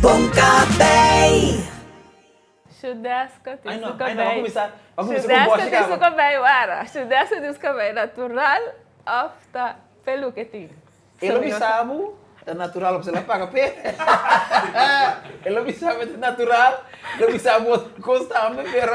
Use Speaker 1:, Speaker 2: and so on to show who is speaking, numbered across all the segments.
Speaker 1: Bon Café! Shudesca ti su cabei Shudesca ti su cabei wara Shudesca ti su cabei Natural of ta pelu ke tin? E lo bisa bo ta natural pasobra el a paga p'e E lo bisa bo ta natural Lo bisa bo otro cos tambe pero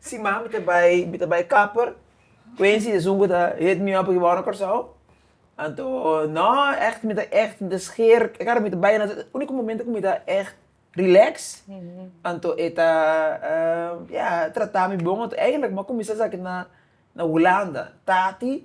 Speaker 1: Sima mi ta bai mi ta bai kapper kuensi esun ku ta hit mi opp wou na Kòrsou anto nò ègt mi ta ègt mi ta skeer kar mi ta bai na e uniko momento ku mi ta ègt rilèks anto e ta ya trata mi bon anto eigentlik mi a kuminsá sa na na hulanda tati.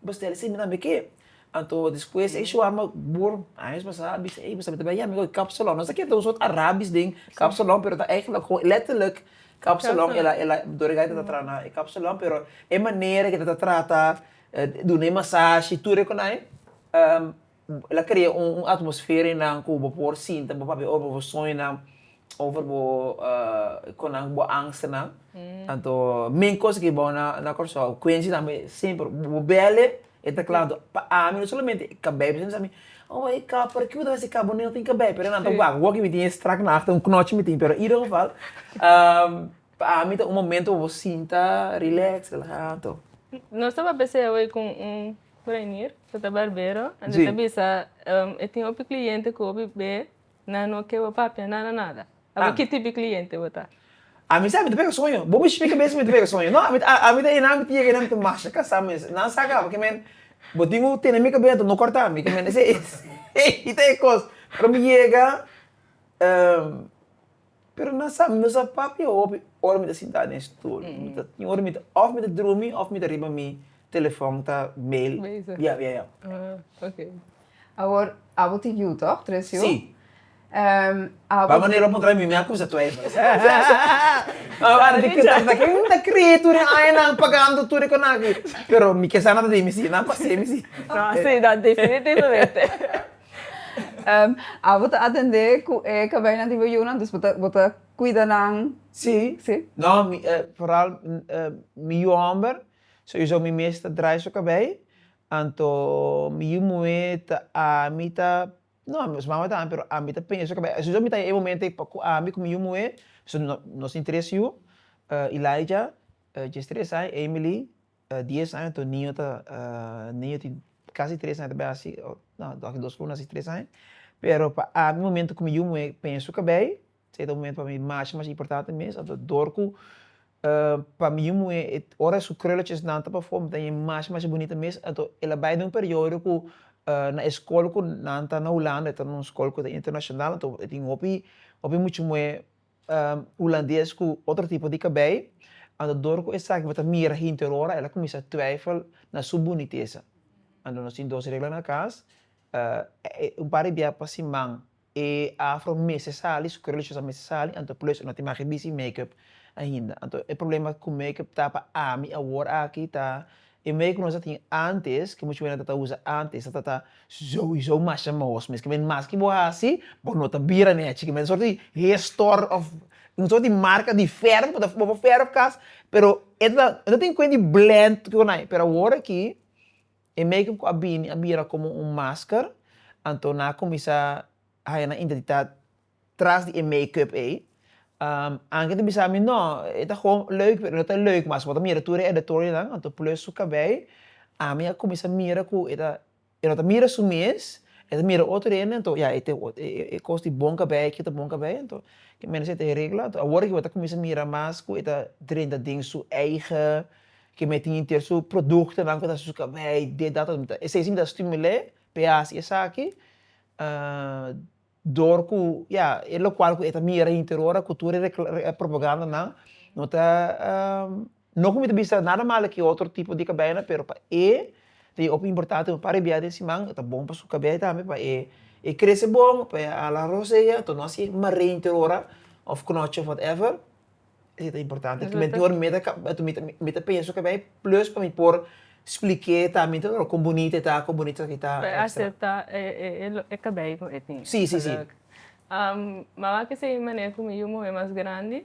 Speaker 1: bestel esei mi tambe ke. Anto despues e shua mi bor años pasá a bisa, ey bo sabia ta bay yami ko e kapsalon. Nos a keda ta usa otro arabish den kapsalon pero ta eigenlijk gewoon letterlijk kapsalon el a el a dorigay ta traha na e kapsalon pero e manera ku e ta trata duna e masashi tur e konai El a krea un atmosfera i nan ku bo por sinta bo papia over bo soñonan, over bo konanke bo angstenan. Anto men kos aki bou na Kòrsou, Quency tambe semper bo bel e, e ta kla anto pa ami no solamente e kabei, pasobra e bisa mi, oh e kap, pero kico ta hasi e kap? Bo niga tin kabei, pero nan ta wak, wak mi tin e strak na after, un knochi mi tin, pero in ieder geval pa ami ta un momento pa bo sinta relax, relahá anto. Nos ta papia esei awor ku un. Reinier, cu ta barbero, anto ta bisa, e tin hopi cliente cu hopi be nan no ke bo papia nada nada. Abo ki tipi cliente bo ta? Ami sa, mi ta pega soño. Bo mi shmika bien si mi ta pega soño. No, ami ta, ami ta enan, mi ta yega enan, mi ta masha kasa mes. Nan sa kaba ke men, bo tin un tene mi kabia anto no corta mi. Ke men esei, ei ta e cos. Pero mi yega. Pero nan sa, nos a papia hopi ora mi ta sintá den stol. Mi ta tin ora mi ta, òf mi ta drumi òf mi ta riba mi telefòn ta bel. Bezig. Ya, ya, ya. Ah, ok. Awor, abo tin yu tòg, tres yu? Si. Abo. Ba manera bo puntra mi, mi a kumsa twijfel. Bai wak di ke tafta akí, mi ta krie tur e aña nan pagando tur e konan akí. Pero mi ke sa nan ta di mi si, nan pas'é mi si. No, si, no, definitivamente. Ehm, a bo ta atendé cu e cabijnan di bo yunan, dus bo ta, bo ta cuida nan? Sí. Sí? No, mi, eh, vooral, eh, mi yu homber, sowieso mi mes ta draai su kabei, anto mi yu muhé ta ami ta, no, su mama tambe, pero ami ta peña su kabei. Sowieso mi ta e momento ei ku ami ku mi yu muhé, nos tin tres yu, eh, Elijah, eh, djes tres ai, Emily, dies aña toda niño ta niño tin casi tres aña ta bai haci no toki dos cu lo naci tres aña pero pa ami momento cu mi yu muhé pena su cabei se ta un momento pa mi masha masha importante mes anto dor cu pa mi yu muhé ora e su krulletjes nan ta bafo mi ta ña masha masha bunita mes anto e la bai den un periodo cu na e scol cu nan ta na hulanda e ta na un scol cu ta internacional anto e tin hopi hopi mucha muhé Hulandes ku otro tipo di kabei. Anto dor ku esaki bo ta mira henter ora el a kuminsá twijfel na su bunitesa. Anto nos tin dos regla na kas, un par di bia pa siman e afro mester sali, su krol shos a mester sali, anto plus e no tin maki bisi makeup ainda. Anto e problema ku makeup ta pa ami awor aki ta E mei ku nos a tin ántes, ke muchu mei nan ta ta usa ántes, ta ta souiso masha mohos mes. Ke mei mas ke bo hasi, bo no ta bira nèchi. Ke mei ta sòrt di hestor òf un sòrt di marka di fèrf, bo ta bo por fèrf kas, pero e ta e no tin kuent di blènt ku konai. Pero awor aki, e make-up ku a bini a bira komo un masker, anto nan a kuminsá haña nan identitat tras di e make-up ei. Anke ta bisa mi, No, e ta gewoon leuk, pero e no ta leuk mas. Bo ta mira tur e editorialnan, anto plus su kabei. Ami a kuminsá mira ku e ta, e no ta mira su mes, e ta mira otro hende, anto ya, e tin e kos di bon kabei aki, e ta bon kabei. Anto ke menester ta regla. Anto awor ke bo ta kuminsá mira mas ku e ta drenta den su eigen, ke mi a tin henter su produktonan ku ta hasi su kabei dit dat. Esei si mi ta stimul'é p'e hasi esaki. Dor ku ya e lokual ku e ta mira hinter ora ku tur e propagandanan no ta no ku mi ta bisa nada malo ku e otro tipo di kabeinan pero pa e ta hopi importante un par di biaha den siman e ta bon pa su kabei tambe pa e e krese bon pa e hala rosea enton no a hasi marei hinter ora of knoche of whatever. E ta importante cu mi tin ora mita cab mi ta penso ca bay plus pa mi por spliké ta mi tin ora con bunita e ta con bunita esaki ta extra. Acepta e cabay cu e tin. Sí, sí, sí. Mama a kisa ey manera cu mi yu muhe mas grandi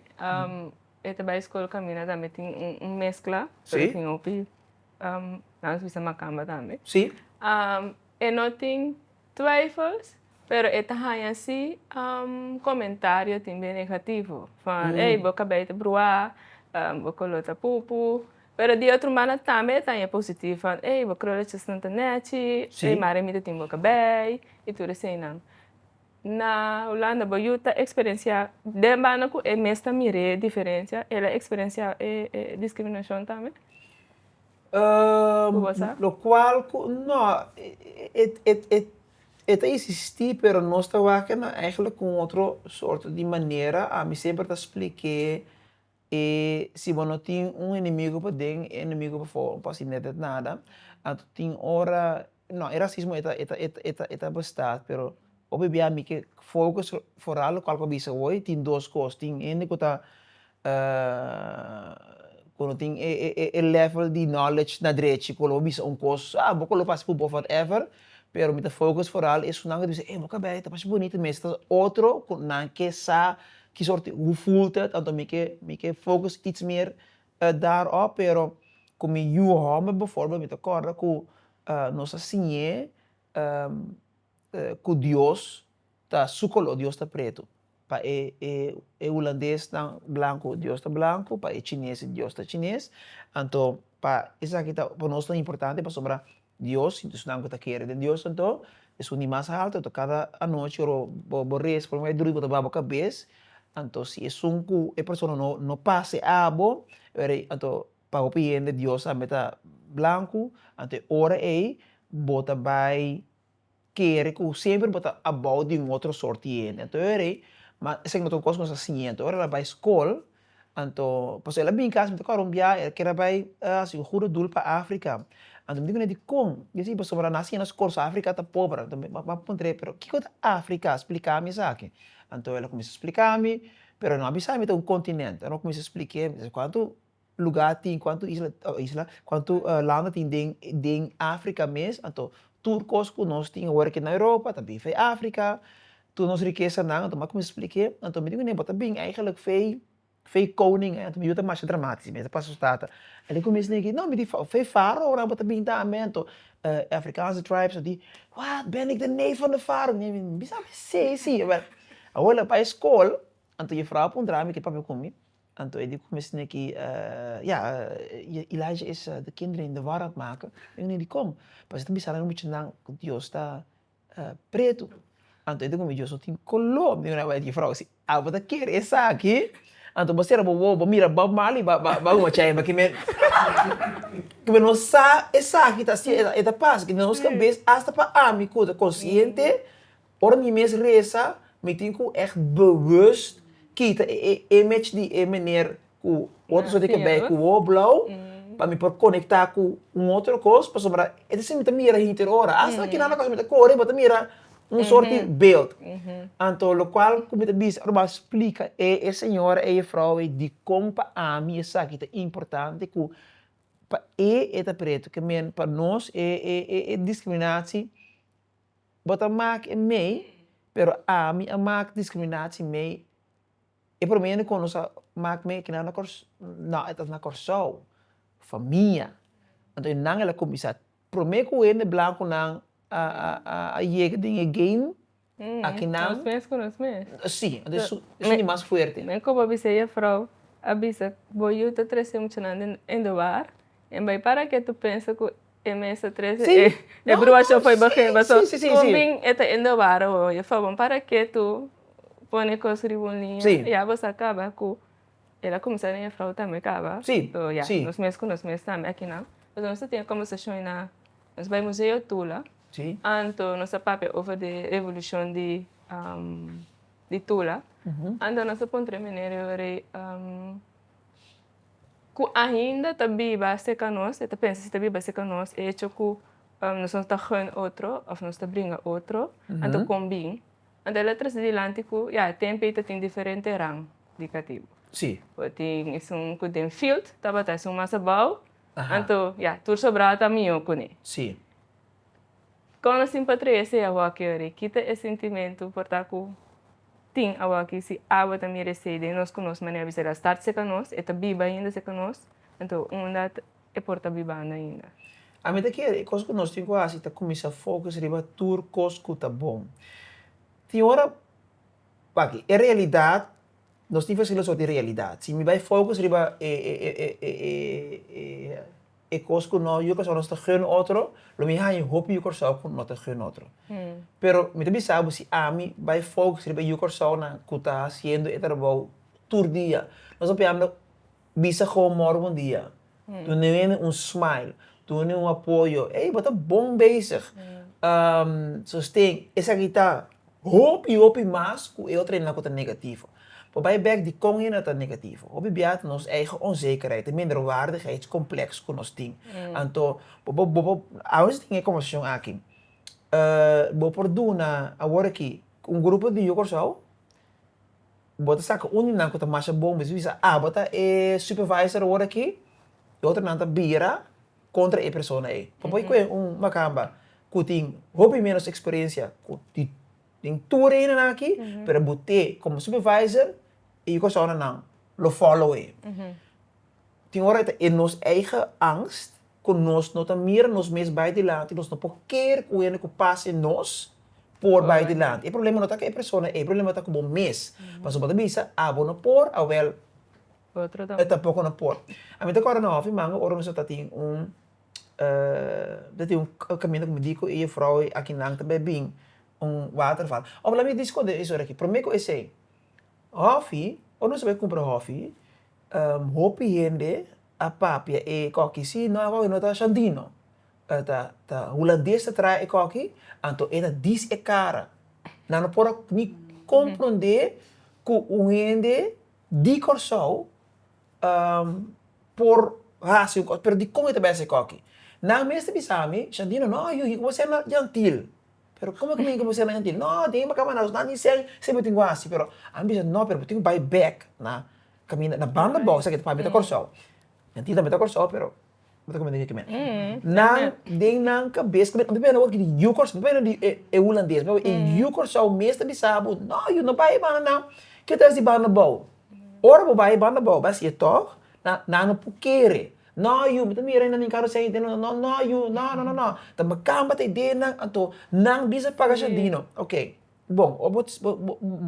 Speaker 1: e ta bay school camina tambe tin un mezcla pero tin hopi nan nos bisa macamba tambe. Sí. E no tin Twijfels, pero e ta haña si comentario tin den negativo, van ey bo cabey ta brua, bo color ta pupu, pero di otro mana tambe e ta haña positivo van ey bo krulletjes nan ta nechi, ey mari mi ta tin bo cabey y tur eseinan. Na Hulanda bo yu ta experencia den banda cu e mes ta mire diferencia el a experencia e discriminacion tambe? Ku basa? Lokual ku, no, e ta isistí pero nos ta wakanan eigenlijk ku un otro sorto di manera. Ami semper ta spliké e si bo no tin un enemigu paden, e enemigu pafó no ta hasi nada. Anto tin ora. No, e rasismo e ta, e ta, e ta, e ta, e ta basta, pero hopi bia mi ke focus foral locual cu a bisa hoy tin dos cos, tin hende cu ta cu no tin e e e level di knowledge na drechi cu lo a bisa un cos ah bo cu lo fasi pu bof whatever, pero mi ta focus foral esunnan cu ta bisa eh bo cabei e ta pashi bunito mes ta otro cu nan ke sa ki soorti hu fulta tanto mi ke mi ke focus iets meer a dar òf pero ku mi yu hòmber beforbel mi ta kòrda ku nos a siñ'é ku Dios ta su koló Dios ta pretu pa e e hulandesnan blanku Dios ta blanku pa e chinesnan Dios ta chines anto pa esaki ta pa nos ta importante pasobra Dios y esunnan cu ta kere den Dios anto es un di mas haltu anto cada anochi ora bo reza por lo menos bay drui bo ta baha bo cabez anto si esun cu e persona no no pasa e abo were anto pa hopi hende Dios tambe ta blancu anto e ora ey bo ta bay kere ku semper bo ta abou di un otro sort di hende. Anto e rei, ma esaki no ta un kos ku nos a siña. Anto ora el a bai skol, anto, pasobra el a bini kasa mi ta kore un biaha, el kier a bai hasi un hudo dul pa Afrika. Anto mi di kuné dikon? Mi di si, pasobra nan a siña nan skol sa Afrika ta pober. Anto mi a puntr'é, pero kiko ta Afrika? Splika mi esaki. Anto el a kuminsá splikami, pero el no a bisa mi ta un kontinènt. Ora mi a kuminsá splik'é, mi di si, kuantu. lugá tin, kuantu isla, oi isla, kuantu landa tin den den afrika mes, anto tur kos ku nos tin awor aki na europa ta bin fei afrika, tur nos rikesanan, anto maku mi splik'é, anto mi di kuné bo ta bin eigenlik fei fei koning, anto mi yu ta masha dramatis mi ta pasa su tata, a di kuminsa negi no mi di fei faraonan bo ta bin ta amé, anto afrikanse tribes a di wat ben ik de neef van de farao, mi di mi sa besé si, awor lo bai skol, anto jufrouw a puntra mi ke papia ku mi. Anto e di ku mes teneki ya, i Elijah es di kinder i Ndevar at maka? Mi no di kon, pasobra e ta bisa nan muchanan ku Dios ta pretu, anto e di ku mi Dios no tin koló, mi di ku nan bai di jefrouw, si abo ta kere esaki, anto bo sera bo wou, bo mira Bob Marley ba guacha henda, kimen ku mi no sa esaki ta hasi, e ta pasa, kimen nos kabes, hasta pa ami ku ta konsiente. Ora mi mes resa, mi tin ku ègt bewust kita e image di e meneer ku otro soy di kebèi ku oor blou, pa mi por konektá ku un otro kos, pasobra e ta siña mi ta mira henter ora. Asta na kinan lokal mi ta kore mi ta mira un sort di beeld. Anto lokual ku mi ta bisa ora mi a splika e señora, e jefrouw ei dikon pa ami esaki ta importante ku pa e e ta pretu, ke men pa nos e diskriminasie. Bo ta mak e mei, pero ami a mak discriminatie mei. E prome hende cu nos a mak mei aki nan no, e ta na Corsou, famia. Anto e nan el a cuminsa. Prome cu hende blanco nan a yega den e game aki nan. Nos mes cu nos mes. Si, anto es un di mas fuerte. Mi a koba a bisa e juffrouw, a bisa, bo yu ta trece muchanan den de bar, en bay para ke tu pensa cu E mes ta trece e e brua show foi begin paso con bin e ta ende wara ho oye favor para ke tu pone cos riba un liña ya bo sa caba cu el a cuminsa den e frou tambe caba so ya nos mes cu nos mes tambe akinan paso nos ta tin e conversacion na nos bai museo tula anto nos ta papia over di revolucion di di tula anto nos ta puntra e meneer riba rei ku ainda ta biba serka nos, e ta pensa si ta biba serka nos e hecho ku nos no ta gun otro òf nos ta bringa otro anto kon bin? Anto el a trese dilanti ku ya e tempe ei ta tin diferente rang di katibu. Sí. Bo tin esun ku den field tabata esun mas abou, anto ya tur sobrado ta mihó kuné. Sí. Kon nos tin pa trese awòkio ri kita e sintimentu por ta ku tin awòkio si awa ta mira esei den nos ku nos manera bisa el a start seka nos e ta biba ainda seka nos anto unda e por ta bibando ainda? Ami ta kere e kos ku nos tin ku hasi ta kuminsá fokus riba tur kos ku ta bon. Tin ora aki e realidat nos tin fasi lo so di realidat si mi bai fokus riba e. E kos ku no yu Kòrsou nos ta gun otro, lo mi haña hopi yu Kòrsou ku no ta gun otro. Pero mi ta bisa bo si ami bai focus riba e yu Kòrsounan ku ta hasiendo e trabou tur dia, nos a pianga bisa Gou Morbo un dia, duna hende un smile, duna hende un apoyo, ey bo ta bon bezig, sosten, esaki ta. Hopi, hopi mas ku e otronan ku ta negativo. Pa bai bèk di kon henda ta negativo. Hopi bia ta nos eigen onzekerheid, e minderwaardigheidskompleks ku nos tin. Anto, bo por, bo por, awe si tin e informashon aki, bo por duna awor aki un grupo di yu Kòrsou, bo ta saka un di nan ku ta masha bon, bisnis bisa, abo ta e supervisor awor aki, e otronan ta bira. kontra e persona ei. Papuei ku e un makamba ku tin hopi ménos eksperensia ku di den tur reinonan aki, pero e but'é komo supervisor, e yu kòrsounanan lo fòlow e. Tin ora e nos eigen angst ku nos no ta mira nos mes bai dilanti, nos no por keer ku hende ku pas den nos por bai dilanti. E problema no ta ku e persona ei, e problema ta ku bo mes. Pasobra bo ta bisa, abo no por, awèl E tampoco no por. A mi ta corda na ofi manga ora nosotros ta tin un ta tin un caminda cu mi dico y e vrouw y aki nan tambe bin un waterval. Of laat mi discute eso aki. Prome cu esey, ofi, ora nos ta bay cumpra ofi, hopi hende a papia e coki si, no e coki no ta shandino, ta hulandes ta traha e coki, anto e ta dis e cara. Nan no por ni comprende cu un hende Di Kòrsou por hasi un kos, pero dikon i ta bai esikoki? Nan mes ta bisa mi, Shandino, no, yu yu, ku bo ser na yantil? Pero komo ku mi ku bo ser na yantil? No, tin ai bo kaba na asustá, ni sei se bo tin ku hasi. Pero ami bisa, no, pero bo tin ku bai bèk na kaminda, na banda bo, esaki ta pabia ta Kòrsou. Yantil tambe ta Kòrsou, pero. Bo ta comenta di e cumenta. Nan, den nan cabes, mi a word di yu Curaçao, mi a word di e Hulandes, e yu Curaçao mes ta bisa bo, no, yu no bai e banda nan, ke ta hasi banda bou? Ora bo bai e banda bou, bo a siye tog, nan, nan no por kere, no yu, bo ta mira inda mi caro si a hende no, no, no yu, no, no, no, no, tambe camba ta idea nan, anto nan bisa paga shardino, ok. Bon, ora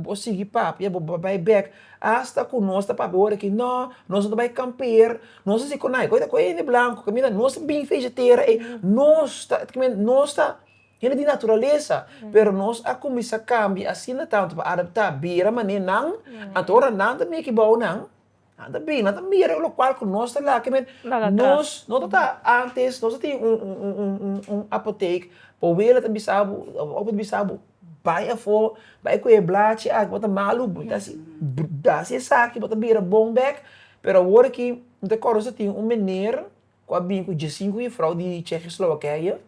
Speaker 1: bo sigui papia, bo bai bek hasta cu nos ta papia ora aki, no, nos no ta bai kamper, nos ta sigue con naye, cu e hende blanco, cu mira nos ta bin fejetera ey, nos ta, cu mira nos ta hende di naturalesa, pero nos a cuminsa cambia asina tanto pa adapta bira mane nan, anto ora nan ta meki bou nan. Nan ta bini, nan ta mira lokual ku nos ta laka men. Laka atras. Nos, no ta ta, antes, nos ta tin un, un, un, un, un, un apotek, bo wele ta bisa bo, bo abu ta bisa bo, bai afó, bai ku e blachi aki, bo ta malu, bo ta hasi, bo ta hasi esaki, bo ta bira bon bèk. Pero awor aki, no ta kòrda nos ta tin un meneer ku a bini ku djesinku gefrou di Tsjechislowakije.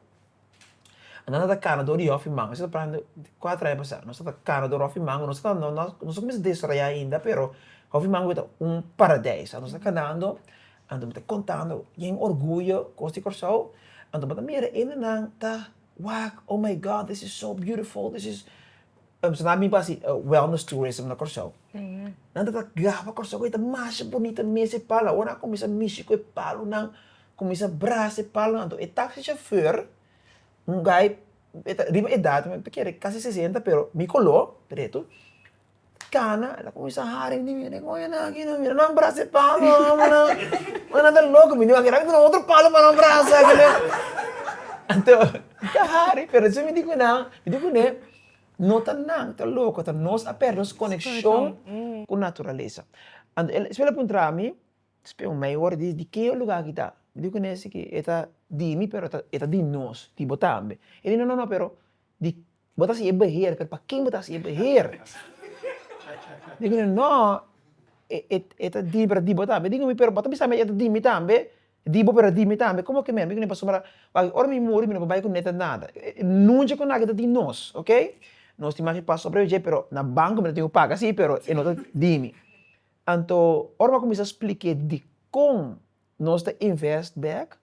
Speaker 1: Anto nos ta cana door di hof y mango. Eso ta prende di cuatro aña pasado. Nos ta cana door hof y mango. Nos ta, no, nos, nos a cuminsa desarrolla ainda, pero hof y mango beta un paradijs. Anto nos ta canando, anto mi ta contando bien orgullo cos di Curaçao. Anto bo ta mira hendenan ta wak, oh my God, this is so beautiful, this is. Pasobra nan a bin pa haci wellness tourism na Curaçao. Nan ta gaba Curaçao cu e ta masha bunita mes e pal. Awor nan a cuminsa mishi cu e palunan. Kuminsá brasa e palma anto e taksi shofèr un gai e ta riba edat mi ta kere kasi sesenta pero mi koló dretu kana el a kuminsá hari di mi oye nan aki nan mira nan brasa e palma oye nan ta loko mi oye nan ta duna otro palo pa nan brasa anto mi ta hari pero esei mi di ku nan mi di kuné no ta nan ta loko ta nos a pèrdè nos konekshon ku naturalesa anto el esei el a puntra mi. Espe un mayor di di ke luga aki ta? Mi dico cu nesi ki e ta di mi pero e ta di nos, di bo tambe. E di no no no pero di bo ta hasi e beheer pero pa ken bo ta hasi e beheer? Mi dico cu ne no e ta di mi pero e ta di bo tambe. E dico cu mi pero bo ta bisa mi e ta di mi tambe? E di bo pero e di mi tambe como ki men? Mi dico cu ne pasobra wak ora mi muri mi no bai cu nada ta nada. Nunca cu naki ta di nos ok. Nos tin mas ki pasobra dje pero na banco mi ta tin cu paga si pero e no ta di mi. Anto, ora bo a kuminsá spliké dikon nos ta invest bèk,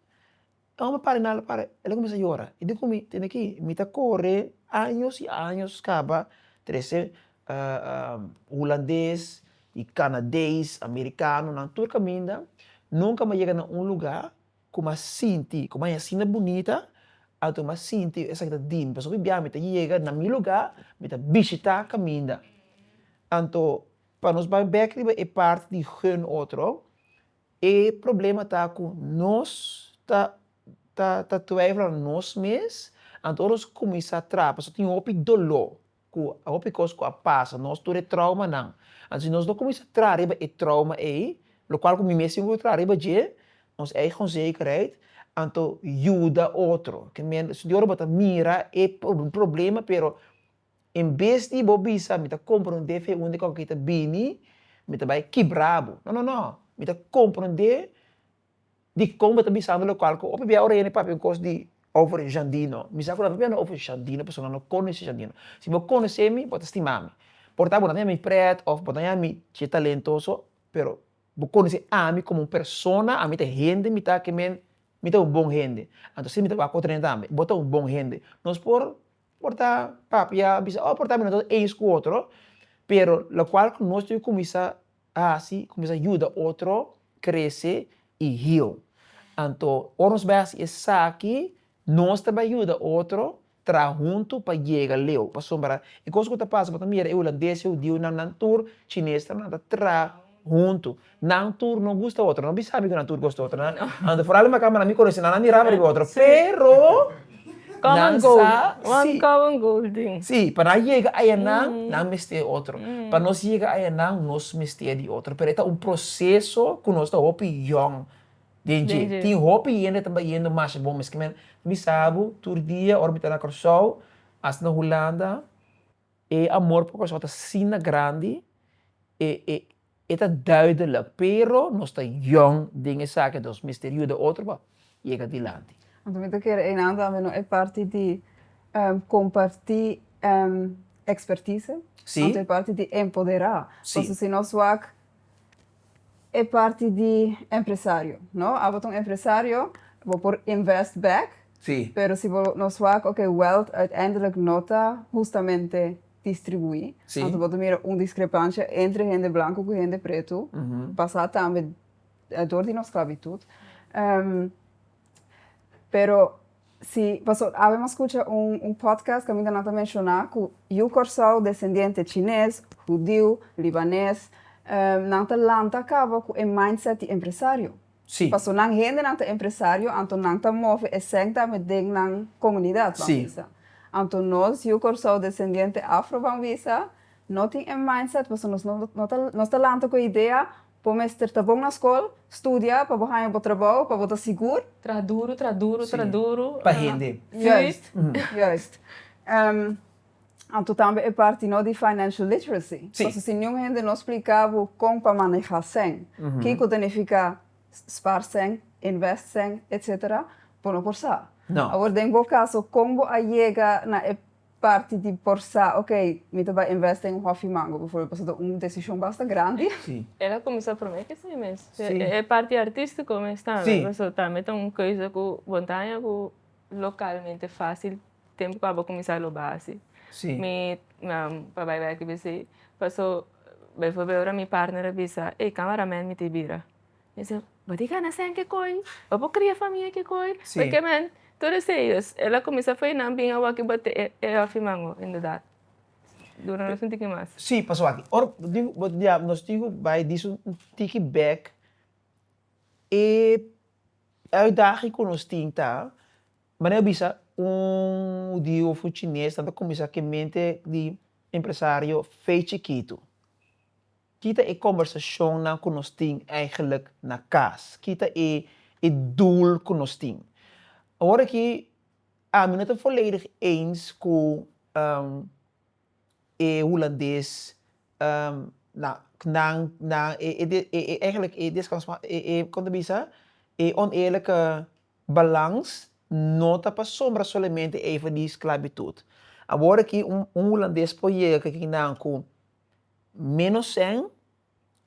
Speaker 1: e omber para di nada, para, el a kuminsá yora. I dikon mi tende ki? Mi ta kore años i años kaba trese hulandes i kanadeis, amerikanonan, tur kaminda, nunka mi a yega na un lugá ku mi a sinti ku mi a haya asinda bunita, anto mi a sinti esaki ta di mi. Pasobra bia mi ta yega na mi lugá, mi ta bishitá kaminda. Anto. Pa nos bai bek riba e parti di hun otro, e problema ta ku nos ta ta ta twijfel na nos mes, anto ora nos kuminsá traha pasobra tin hopi doló ku hopi kos ku a pasa, nos tur e traumanan, anto si nos no kuminsá traha riba e trauma ei, lokual ku mi mes tin ku traha riba dje, ons eigen onzekerheid, anto yuda otro, ke men, si tin ora bo ta mira e problema pero. En bes di bo bisa, Mi ta compra un dfe unda cu aki ta bini, mi ta bay kibra bo. No, no, no. Mi ta compra un dfe dicon bo ta bisando local cu o pabia ora yende papia un cos di over Jandino. Mi sa cu no pabia no over Jandino pasobra no conoce Jandino. Si bo conoce mi, bo ta stima mi. Por ta bo no ta yama mi pret of bo ta yama mi che talentoso, pero bo conoce ami como un persona, ami ta hende mi ta, ke men, mi ta un bon hende. Anto si mi ta wak otro hende tambe. Bo ta un bon hende. Nos por. por ta papia a bisa o por ta mi no ta eins ku otro pero lokual ku nos tin ke kuminsá hasi kuminsá yuda otro krese i heal anto ora nos bai hasi esaki nos ta bai yuda otro traha huntu pa yega leu pasobra e kos ku ta pasa bo ta mira e hulandes e hudiunan nan tur chinestanan ta traha Huntu. Nan tur no gusta otro. No bin sabi ku nan tur gosta otro. Nan anto for alma kamba. Nan bin konosi nan, nan miraba riba otro. Pero, nan sa si. Si, pa nan yega ayanan, nan mester e otro. Pa nos yega ayanan, nos mester di otro. Pero e ta un proseso ku nos ta hopi yòn den dje. Tin hopi hende ta bayendo masha bon. Miskien mi sabi tur dia ora mi ta na Kòrsou, asta na Hulanda. E amor pa Pastor ta asina grandi, e e e ta duidelijk, pero nos ta yong den esaki, entonces mester yuda otro pa yega dilanti. Anto mi ta kere einan tambe no e parti di comparti expertise, anto e parti di empodera, pasobra si nos wak. e parti di empresario no abo ta un empresario bo por invest back Sí. pero si bo no swak oke wealth uiteindelik no ta hustamente distribuí Sí. anto bo ta mira un discrepancia entre hende blanco cu hende preto pasá tambe dor di nos sclavitud pero. Si, paso awe m'a scucha un un podcast caminda nan ta menciona cu yu Corsou descendiente Chines, Hudiu, Libanes, ehm, nan ta lanta caba cu e mindset di empresario. Si. Paso nan hendenan ta empresario, anto nan ta move e cent dame den nan comunidad, ban bisa. Si. Anto nos yu Corsou descendiente Afro, ban bisa, no tin e mindset paso nos no ta nos ta lanta cu e idea Bo mester ta bon na skol, studia pa bo haña bo trabou, pa bo ta sigur. Traha duru, traha duru, traha duru. Sí, pa hende. Juist, juist. Anto tambe e parti no di financial literacy. Sí. Paso si niun hende no spliká bo kon pa manehá sèn, kiko ta nifiká spaar sèn, invest sèn, etcétera, bo no por sa. No. Awor den bo kaso, kon bo a yega na e Parti di por sa ok mi ta bai invest den hofi mango befo paso ta un decision basta grandi. Sí. El a cuminsa prome ki esei mes. Sí. E parti artistico mes tambe. Sí. Paso tambe ta un keuze cu bo ta haña cu localmente facil tempo cu abo cuminsa lo basi. Sí. Mi pa bai wak aki besi paso befo ora mi partner a bisa ey cameraman mi ta bira Mi a bisa, Bo tin gana sèn kikoi? Bo por kria famia kikoi? Pasobra men, tur esei dus, el a kuminsá fei nan bin awak'i bat'é e hòfi mango, inderdat. Duna nos un tiki mas. Sí, pas awak'i. Ora bo tin ku, bo ta bia, nos tin ku bai di su un tiki bèk, e uitdaging ku nos tin ta, manera bo bisa, un hudiu òf un chines nan ta kuminsá ku e mente di empresario fei chikitu. Kita e kombersacionnan cu nos tin eigenlijk na cas. Kita e e doel cu nos tin. Awor aki ami no ta voledig eens cu e Hulandes na nan nan e eigenlijk e como ta bisa e oneerlijke balans no ta pasobra solamente even di sclavitud. Awor aki un Hulandes por yega kiki nan cu Menos sèn,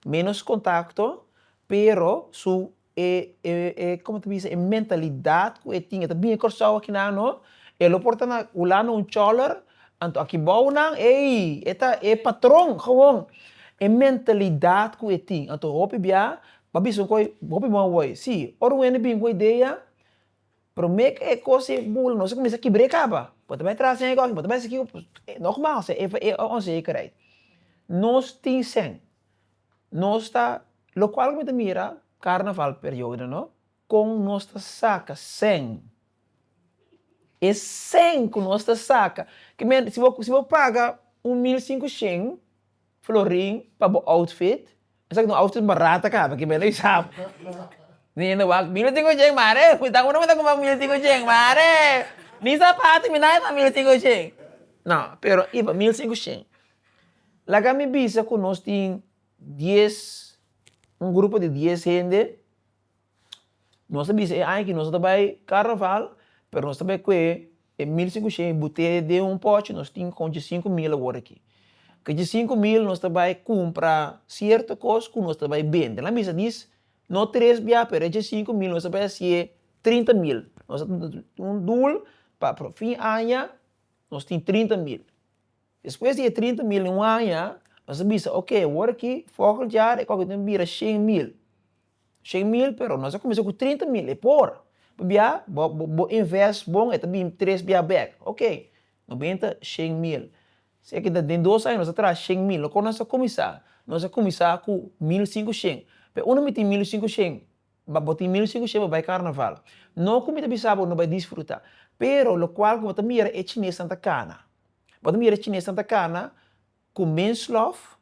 Speaker 1: menos kontakto, pero su e e e komo ta bisa e mentalidat ku e tin e ta bini Kòrsou aki nan no, e lo por ta na Hulanda un chòler, anto aki bou nan ei e ta e patron gewon, e mentalidat ku e tin, anto hopi bia a bisa un koe hopi bon a wòì, si ora un hende bin ku e idea Promé ke e kos ei bula nos a kuminsá kibr'é kaba, bo ta bai tras den e kos, bo ta bai esaki ku, nògmaal se e e onzekerheid. Nos tin sèn, nos ta, lokual ku mi ta mira karnaval periodo no, kon nos ta saka sèn, e sèn ku nos ta saka, ke men si bo si bo paga un mil sinku shen Florin pa bo outfit. Esaki ta un outfit barat a kaba kiba e no isab. Niña no wak mil i sinku ocen mare, futa uno me ta kuma mil i sinku ocen mare, ni sapato mi nada ta mil i sinku ocen. No, pero i ba mil sinku shen. Laga mi bisa ku nos tin dies, un grupo di dies hende. Nos ta bisa e aña aki nos ta bay carnaval pero nos ta bay cu e mil cinco ciento y boteya den un pochi nos tin con dje cinco mil awor aki ca dje cinco mil nos ta bay cumpra cierto cos cu nos ta bay bende nan bisa dis no tres bia pero e dje cinco mil nos ta bay haci'e trinta mil nos ta tin un doel pa fin aña nos tin trinta mil despues di e trinta mil den un aña nos ta bisa ok awor aki volgend jaar e cos tin bira shen mil. Shen mil pero nos a cuminsa cu trinta mil e por pabia bo bo invest bon e ta bini tres bia back ok nos bini ta shen mil sea que den dos aña nos a traha shen mil loke nos a cuminsa nos a cuminsa cu mil cinco shen pe unda mi tin mil cinco shen ba bo tin mil cinco shen bo bai carnaval no cu mi ta bisa bo no bai disfruta pero locual cu bo ta mira e chinesnan ta cana bo ta mira e chinesnan ta cana Cu mens lof,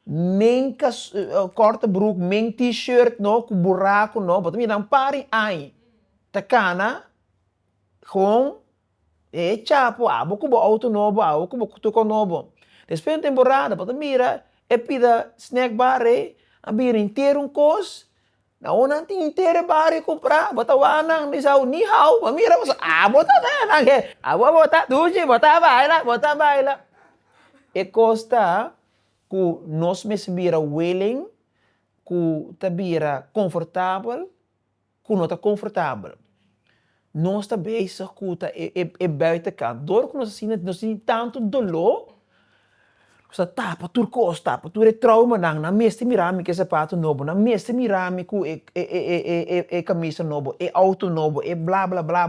Speaker 1: men cas, corta broek, men t-shirt no cu buraco no, bo ta mira nan pari ai ta cana gewoon e chapo abo cu bo auto nobo, abo cu bo tuco nobo. Despues na temporada bo ta mira e pida snack bar ei a bira intero un cos Na un nan tin te de bario compra bo ta wak nan mi sau ni hau bo mira bo a bo ta wak nan he a bo bo ta duchi bo ta baila bo ta baila e cos ta cu nos mes bira willing cu ta bira confortabel cu no ta confortabel. Nos ta bezig ku ta e buitenkant. Dor ku nos a sinti, nos sinti tantu doló, nos ta tapa tur kos, tapa tur e troumanan. Nan mester mira mi ku e sapatu nobo, nan mester mira mi ku e kamisa nobo, e outo nobo, e bla bla bla.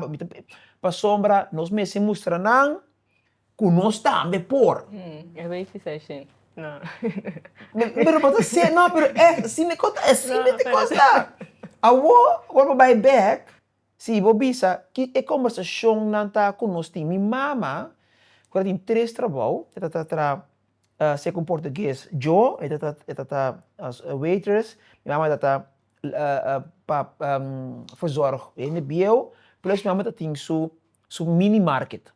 Speaker 1: Pasobra nos mester mustra nan ku nos tambe por. Pero bo ta ser, no, pero èf, si mi konta e asina di kos la. Awor, awor bo bai bèk. Si bo bisa ki e kombersacionnan ta cu nos tin. Mi mama, cu ta tin tres trabou, e ta ta tra seco un portugues. Yo, e ta ta e ta ta waitress, mi mama e ta ta pa verzorg hende bieuw, plus mi mama ta tin su su mini market.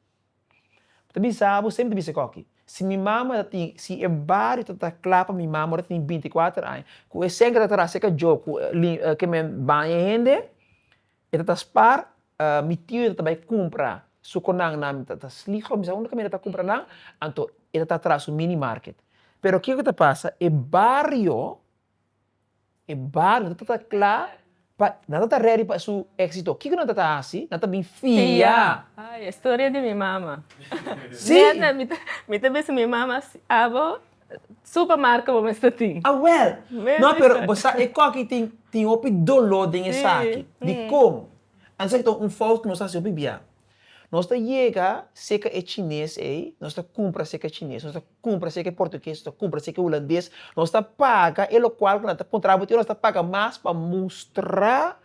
Speaker 1: Bo ta bisa abo semper ta bisa koki, si mi mama ta tin, si e bario ta ta kla pa mi mama ora ta tin binti i kuater aña ku e sèngke ta ta rasa e kajó ku ke men baña e hende, e ta ta spar mi tio ta ta bai kumpra sukonan na mi ta ta slig ora mi sa unda ku mi ta ta kumpra nan, anto e ta ta tras su mini market. Pero kiko ta pasa, e bario E bario nan ta ta kla pa, nan ta ta redi pa su éksito. Kiko nan ta ta hasi? Nan ta bin fia. Ai, e storia di mi mama. Si. Nena, mi ta, mi ta bisa mi mama, Abo, supa marka bo mester tin. Awèl! No, pero bo sa e kòki tin, tin hopi doló den esaki. Dikon? Anto esaki ta un fout ku nos ta hasi hopi bia. Nos ta yega serka e chines ei, nos ta kumpra serka e chines, nos ta. Cumpra si eke portugues to cumpra si eke hulandes nos ta paga e locual cu nan ta contra bo tin nos ta paga mas pa mustra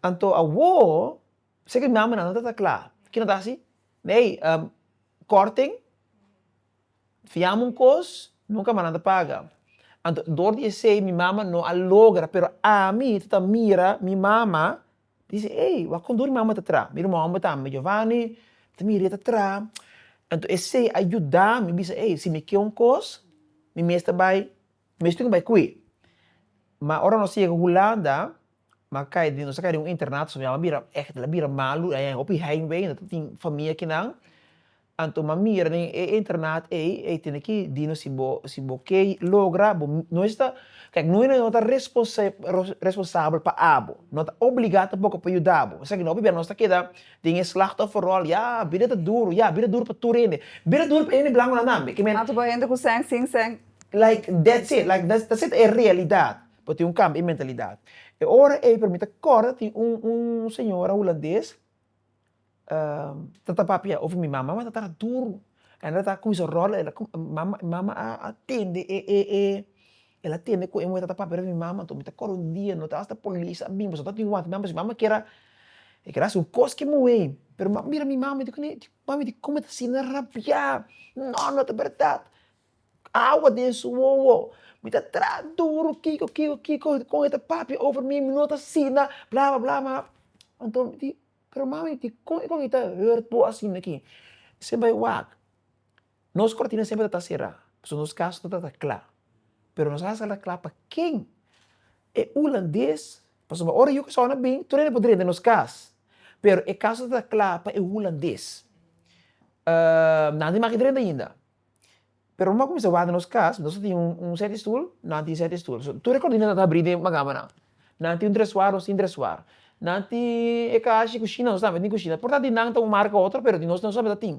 Speaker 1: anto awor si eke mama nan no ta ta cla kico nan ta haci ey corting fiamo un cos nunca mas nan ta paga anto door di esey mi mama no a logra pero ami ta ta mira mi mama Dise, Ey, wak kon durmi amo ta tra. Mi ruman homber ta ami, Giovanni, ta mira e ta tra. Enton esey a yuda mi bisa, ey, si mi ke un kos, mi mes ta bai, mi mes tin ki bai ku e. Ma ora nos a yega Hulanda, mi a kai, nos a kai den un internato, so mi a bira, echte, a bira malu, hopi heimwee, no ta tin famia kinan. Anto m'a mira den e internaat ei, ei tene ki dino si bo si bo ke logra bo no esta kijk no no ta responsa responsabel pa abo no ta obliga tampoco pa yuda bo esaki no pabia nos ta keda den e slachtoffer rol ya bida ta duro ya bida duro pa tur hende bida duro pa hende blanconan tambe ke men Anto pa hende ku sèn sin sèn. Like that's it like ta ta seta e realidad bo tin un kambio e mentalidad e ora ei pero mi ta kòrda tin un un señora hulandes ta ta papia of mi mama ta tara duru en lo ta cuminsa rola el mama a tende el a tende cu e muhel ta ta papia mi mama mi ta acorda un dia no ta hasta policia a bini pasobra no a tin wante mi mama pasobra mi mama kier a e kier a haci un cos cu e muhei pero mi a mira mi mama dico nee mami dicon bo ta asina rabia no no ta berdad awa den su wowo mi ta traha duru kico kico kico con e ta papia over mi mi no ta asina bla bla bla ma anto mi di Pero mami, dikon i kon i ta hurt bo asin aki? Esei bai wak. Nos kòrtina semper ta será, pasobra nos kas no tabata kla. Pero nos hasi ala kla pa ken? E hulandes? Pasobra ora yu kasauna bini, tur hende por drenta nos kas. Pero e kas no tabata kla pa e hulandes. Nan di maki drenta ainda. Pero moda ku mi sa wak den nos kas, nos a tin un sèt di stul, nan tin sèt di stul. So, tur e kòrtina ta abrí den bakamannan. Nan tin un dresuar, nos tin dresuar. Nan tin e kashi di kushina, nos tambe tin kushina. Por tanto di nan ta un marka ku otro, pero di nos, nos tambe ta tin.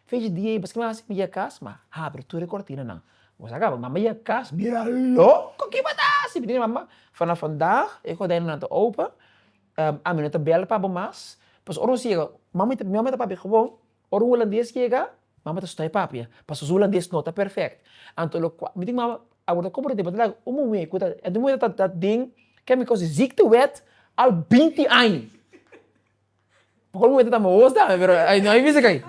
Speaker 1: Fechi di ei, pask'e mi hasi mi yek kas, mi a habri tur e kòrtinanan. Ku sa kaba, mi mama yek kas, mira loko kiba ta hasi! Mi di mi mama, Fanaf bandag e gordènnan ta open, ami no ta bèl pabo mas, pasobra ora nos yega, mama, mi ta pabi gewon. Ora un hulandes yega, mama ta stòi papia, pasobra su hulandes no ta perfect. Anto lo cual, mi tin mama a wordo como ta debata laga un muhé cu ta, e ta un muhé cu ta den, ke mi koos di ziektewet al binti aña. Pasobra un muhé ta tamba wos dame, pero ai no ai bisa kei.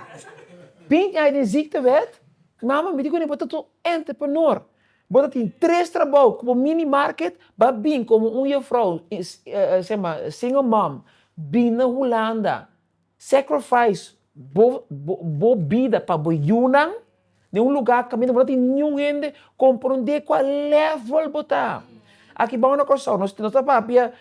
Speaker 1: Binti aña den ziektewet, mama mi tin kune bo ta un entreprenor, bo ta tin tres trabao ku bo mini market, ba bin komo un juffrouw, single mom, bin na Hulanda, Sacrifice bo bida pa bo yunan den un lugar caminda bo no tin niun hende comprende cua level bo ta. Aki bao na Curaçao nos ta papia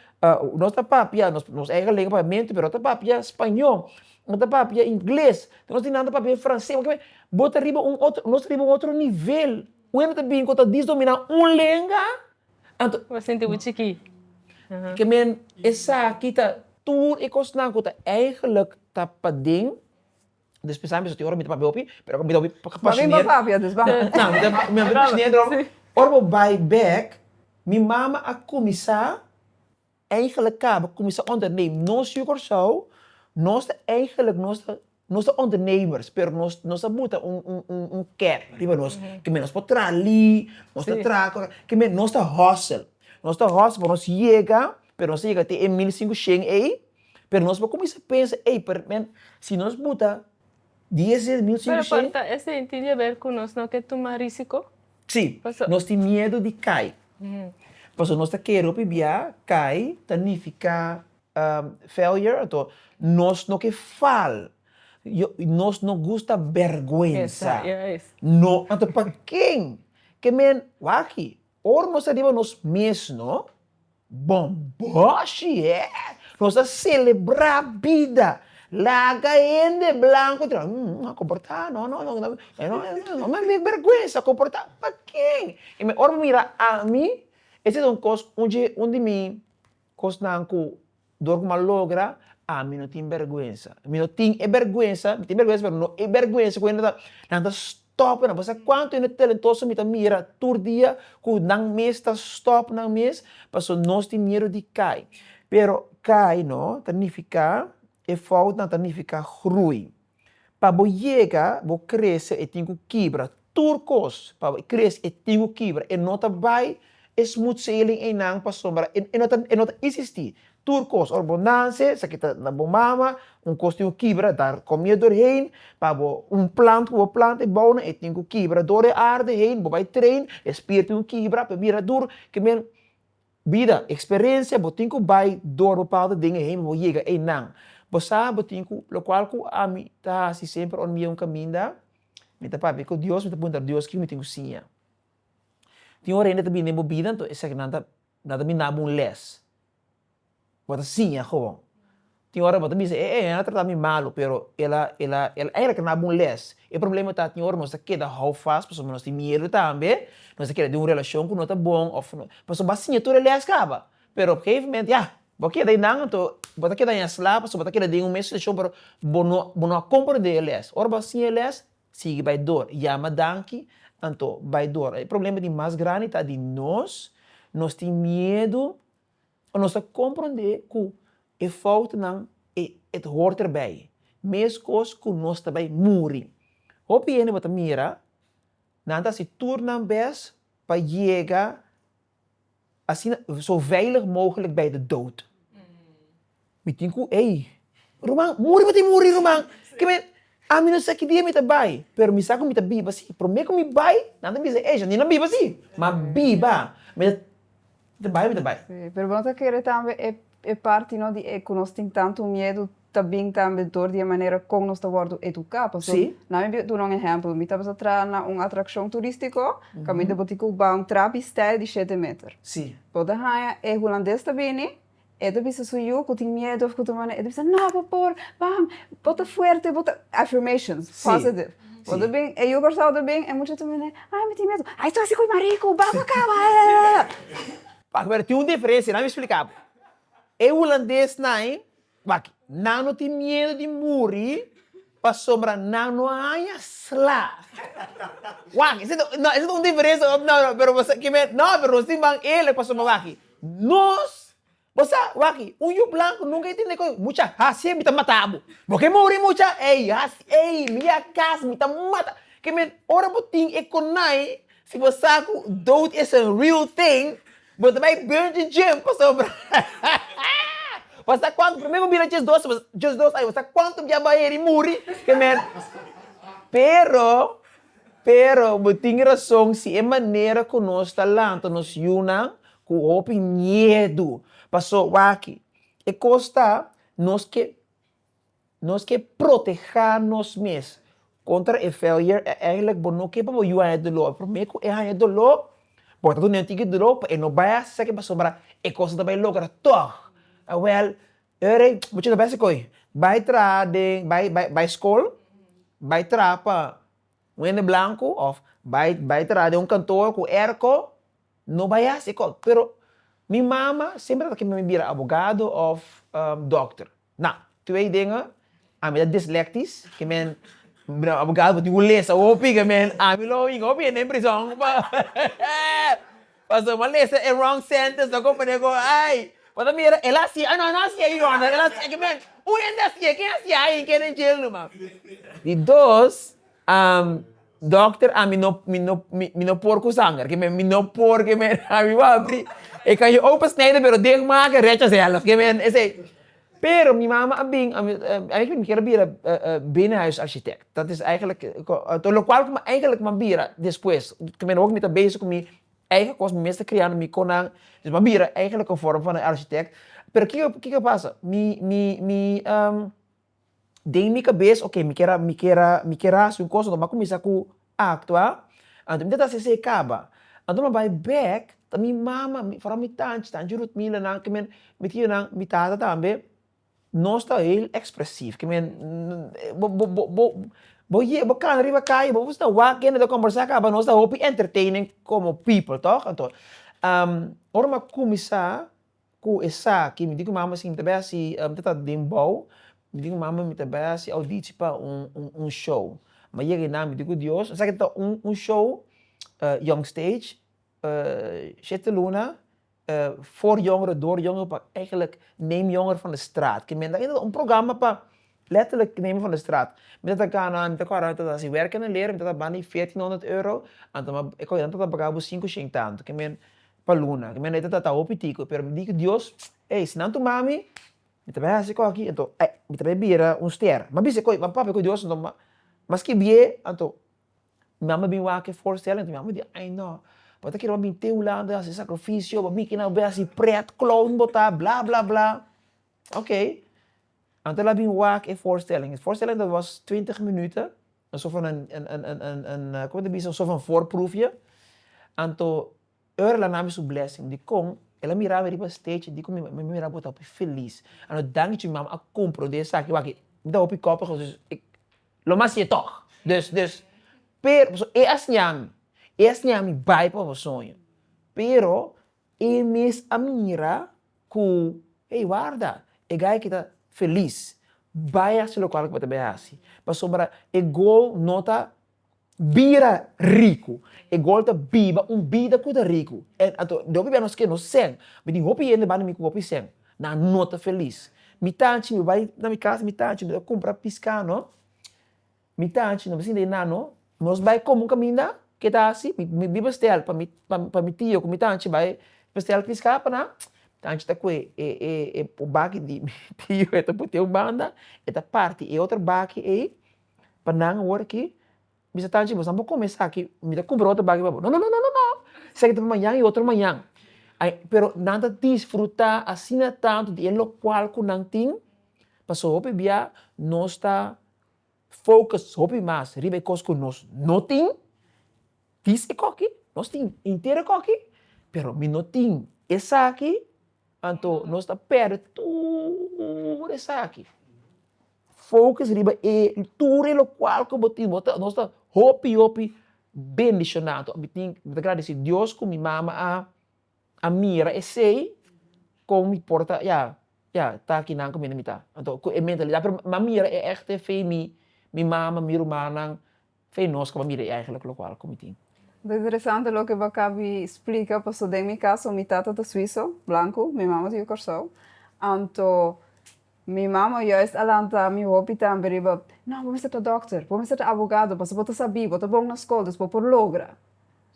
Speaker 1: nos ta papia nos eigen lenga papiamento pero nos ta papia spaño, nos ta papia ingles, nos tin nan ta papia francés porque kilabe bo ta riba un otro nos ta riba un otro nivel wende ta bin cu ta disdomina un lenga. Anto. Bo sinti bo chikí. Ke men esaki ta. Tur e kosnan ku ta eigenlijk ta paden, despues sa biso tin ora mi ta papia hopi, pero ora mi ta hopi pasioner. Ora bo bai bèk, mi mama a kuminsá. Eigenlijk kaba kuminsá onderneem. Nos yu Kòrsou, nos ta eigenlijk nos ta nos ta ondernemers, pero nos nos a buta un un un un kèp riba nos, ke men nos por traha li, nos ta traha kòrè, ke men nos ta hòsel, nos ta hòsel pa nos yega, pero nos ta yega te e mil i sinku shen ei, pero nos por kuminsá pensa, ey, p'er men si nos buta Di e serbiu sin rishei. Pero por esei tin di haber cu nos no ke tuma risico? Si, nos tin miedu di cai. Pasobra nos ta kere hopi bia cai ta nifica failure ato nos no ke fal. Nos no gusta berguensa. No ato pa ken ke men wak aki. Ora nos ta riba nos mesno, bon boshi e! Nos ta selebrá bida. Laga hende blanku traha, mm, a komportá, no, no, no, no me mek bèrgwensa komportá. Pa ken? Ora bo mira ami, esei ta un kos un di mi. Kosnan ku dor ku mi a logra, ami no tin bèrgwensa. Mi no tin e bèrgwensa, mi tin bèrgwensa pero no e bèrgwensa ku nan ta stòp nan. Paseki kuantu hende talentoso mi ta mira tur dia ku nan mes ta stòp nan mes pasobra nos tin miedu di kai. Pero kai no ta nifiká e fout, nan ta nifiká grui. Pa bo yega bo krese e tin ku kibra tur kos pa bo krese e tin ku kibra e no ta bai e smooth sailing einan pasobra e no ta e no ta isistí tur kos ora bo nanse sa kita na bo mama un kos tin ku kibra dar komia dor hein pa bo un plant ku bo plant e bou nan e tin ku kibra dor e arde hein bo bai train e spier tin ku kibra p'e bira dur ke men Bida, experencia bo tin cu bay door bo pawta den e hemel bo yega eynan. Bo sa bo tin cu locual cu ami ta haci semper ora mi yega un caminda, mi ta papia cu Dios, mi ta puntra Dios kico mi tin cu siña. Tin ora hende ta bini den bo bida, enton esaki nan ta, nan ta bini dabo un les. Bo a ta siña gewoon. Tin ora bo ta bisa, e, e a trata mi malu, pero el a, el a, el a daba un les. E problema ta, tin ora nos ta keda hou fas pasobra nos tin miedu tambe, nos ta keda den un relashon ku no ta bon òf pasobra bo a siña tur e les kaba. Pero op gegeven moment, ya, bo a keda ei nan anto bo ta keda ainsla pasobra bo ta keda den un mes situashon pero bo no, bo no a komprende e les. Ora bo a siña e les, sigui bai dor, yama danki, anto bai dor. E problema di mas grandi ta di nos, nos tin miedu. Nos ta komprondé ku e foutnan e ta hort erbei, meskos ku nos ta bai muri. Hopi hende bo ta mira, nan ta hasi tur nan bes pa yega asina zo veilig mogelijk bei de dood. Mi tin ku ei, Ruman, muri pa tin muri ruman, ke men ami no sa ki dia mi ta bai, pero mi sa ku mi ta biba si. Promé ku mi bai, nan ta bisa, Eisha, ni no biba si, ma biba. Mi ta mi ta bai, mi ta bai. Si, pero bo no ta kere tambe e e parti no di e ku nos tin tantu miedu ta bin tambe dor di e manera kon nos ta wòrdu eduká. Paso, nan mi bai duna un ehèmpel. Mi tabata traha na un atrakshon turístiko, kaminda bo tin ku bai un trapi stèl di shete meter. Bo ta haña e hulandes ta bini E ta bisa su yu ku tin miedu òf ku ta manda e ta bisa, No, bo por, pam, bo ta fuerte, bo ta. Affirmations, positive. Bo ta bin, e yu Kòrsou ta bin, e mucha ta manda, Ai, mi tin miedu. Ai, su hasi ku e mariku, ba pa ka, ba e. Wak, pero tin un diferensia, dami splika bo. E hulandesnan, wak, nan no tin miedu di muri pasobra nan no a haña sla. Wak, esei ta, no, esei ta un diferensia òf no, no, pero bo sa, ke men, no, pero nos tin ban eerlijk pasobra wak, Nos, bo sa, waki, un yu blanco nunca i tin de coy, mucha, hacié mi ta mata bo, bo ke morí mucha, ey, haci, ey, mi a cas, mi ta mata, ke men, ora bo tin e konai, si bo sa ku dood is a real thing, bo ta bai bungee jump pasobra, bo sa kuantu, prome bo bira djes dos, djes dos aña, bo sa kuantu biabayer i muri, ke men, pero. Pero bo tin rason si e manera ku nos ta lanta nos yunan ku hopi miedu. Pasó wak-i. E kos ta, nos ke nos ke protehá nos mes kontra e failure. E èiginlik bo no ke pa bo yu haña doló. Promé ku e haña doló, bo ta duna e un tiki doló pa e no bai a sa ke pasobra e kos no ta bai logra tòg. Awèl, Ora ei bo chega bèsè koe, bai traha den, bai bai bai skol, bai traha pa un hende blanku òf bai bai traha den un kantoor ku èrko, no bai hasi kos. Pero mi mama semper a kere mi bira abogado òf dòkter. Nau, tu ei denga. Ami ta dislektis, ke men bira abogado bo tin ku lesa hopi, ke men ami lo hinga hopi hende den prison pa pasobra bo a lesa e wrong sentence lo kon pone ku ai bo ta mira el a hasi ai no el no a hasi ai your honor el a hasi ai ke men un hende a hasi ai ken a hasi ai i keda den jail numa di dos dòkter ami no mi no mi no por ku sanger ke men mi no por ke men ami wou a bri e kan yo open snijden pero dicht make recha zelf ke men esei Pero mi mama a bin, eigenlijk mi kier a bira binnenhuis architect, dat is eigenlijk, lokual ku mi eigenlijk mi a bira despues, te mira awor ku mi ta bezig ku mi eigen kos, mi mes ta kriando mi konan, mi a bira eigen un vorm van een architect, pero kiko pasa, mi mi mi. Den mi kabes, ok, mi kier a, mi kier a, mi kier a hasi un kos, anto m'a kuminsá ku aktua. Anto mi ta trase esei kaba. Anto m'a bai bèk, ta mi mama, mi fora mi tanchi, tanchi Rutmila nan ke men, mi tiu nan, mi tata tambe, nos ta heel ekspresiv. Ke men bo bo bo bo bo ye bo kana riba kai, bo ta wak kende ta kòmbersá kaba, nos ta hopi enterteining komo pipel tòg. Anto ora m'a kuminsá Ku esaki mi di ku mama si mi ta bai hasi mi ta tata den bou, mi di ku mama mi ta bai hasi audichi pa un un show. Mi a yega einan mi di ku Dios esaki ta un un show Young Stage Siete Luna Voor Jongeren Door Jongeren pa eigenlijk Neem Jongeren van de Straat ku mi anda eindende un programa pa letterlijk Neem Jongeren van de Straat. Mi ta taka nan mi ta ku around mi ta hasi werken a leren mi ta bani veertien honderd euro, anto mi a ku einan mi ta paga bo sinku shane tantu. pa luna ke mi anei ta trata hopi tico pero mi di ku Dios ey si nan tuma mi mi ta bai hasi kos aki anto mi ta bai bira un ster mi a bisa koy mi a papia ku Dios anto maski e bie anto mi mama a bin wak e voorstelling anto mi mama a di ay no bo ta kere bo a bin te hulanda hasi sacrificio bo a bin kere nan a bai hasi pret clown bo ta bla bla bla oke anto el a bin wak e voorstelling e voorstelling dat was twintig minuten Nos of nan como ta bisa? Nos of nan voorproefje. Anto ora la nan a su blessing dikon el a mira mi riba stage dikon mi a mira bo ta hopi feliz. Anto danki cu mi mama a comprende esaki wak. Mi ta hopi kopig dus lo mas siye tog. Dus dus pero pasobra e a siña mi, e a siña mi bai pa bo soño pero E mes a mira ku, Ey, warda! E gay aki ta felis. Bai hasi lokal ku bo ta bai hasi. Pasobra e gol no ta bira riku. E gol ta biba un bida ku ta riku. En anto, den hopi biaha nos ke nos sèn. Mi tin hopi hende banda mi ku hopi sèn. Nan no ta felis. Mi tanchi, mi bai na mi kas, mi tanchi, mi ta kumpra piská, no? Mi ta haci, no bisinde na no. Nos bai como un caminda? Ke ta haci? Mi biba stel pa mi pa mi tio cu mi ta haci bai pa stel pisca pa nan. Mi ta haci ta cu e baki di mi tio e ta botea un banda e ta parti e otro baki ey pa nan awor aki. Bisa ta haci boso amo come esaki mi ta cumpra otro baki pa bo. Nonononono esaki ta pa mañan y otro mañan. Pero nan ta disfruta asina tanto di e locual cu nan tin pasobra hopi bia nos ta. focus hopi mas riba e cos cu nos no tin, dis e coki, nos tin intero e coki, pero mi no tin esaki, anto nos ta perde tur esaki, focus riba e tur e locual cu bo tin, bo ta, nos ta hopi hopi bendicionado, mi tin, mi ta gradeci Dios cu mi mama a a mira esei kon mi por ta ya ya ta kinan ku mi na mi ta anto ku e mentalidad pero mi a mira e echte fe mi mi mama mi rumannan fe nos ku bo a mira e eigenlik lokual ku mi tin. Ta interesante loke bo a kabi splika paso den mi kaso mi tata ta suiso blanku mi mama ta yu korsou anto Mi mama juist a lanta mi hopi tambe riba, No, bo mester ta dòkter, bo mester ta abogado, pasobra bo ta sabí, bo ta bon na skol, dus bo por logra.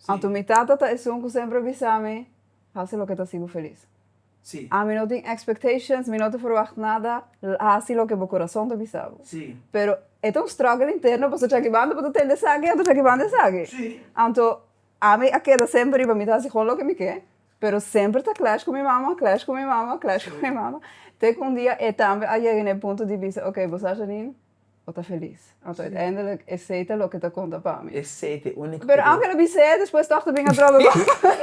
Speaker 1: Anto mi tata ta esun ku semper a bisa mi, Hasi loke ta hasi bo felis. Ami no tin expectations, mi no ta ferwagt nada, hasi loke bo kurason ta bisa bo. Pero e ta un struggle interno, pasobra djakiban bo ta tende esaki, anto djakiban esaki. Anto ami a keda semper riba mi ta hasi hon loke mi ke. Pero semper ta clash cu mi mama, clash cu mi mama, clash cu mi mama, te cu un dia e tambe a yega na e punto di bisa, ok, bo sa ta nin o ta feliz? Anto uiteindelijk esey ta loke ta conta pa mi. Esey ta e unico Pero aunke lo bisa e, despues toch ta bin a drobe bo.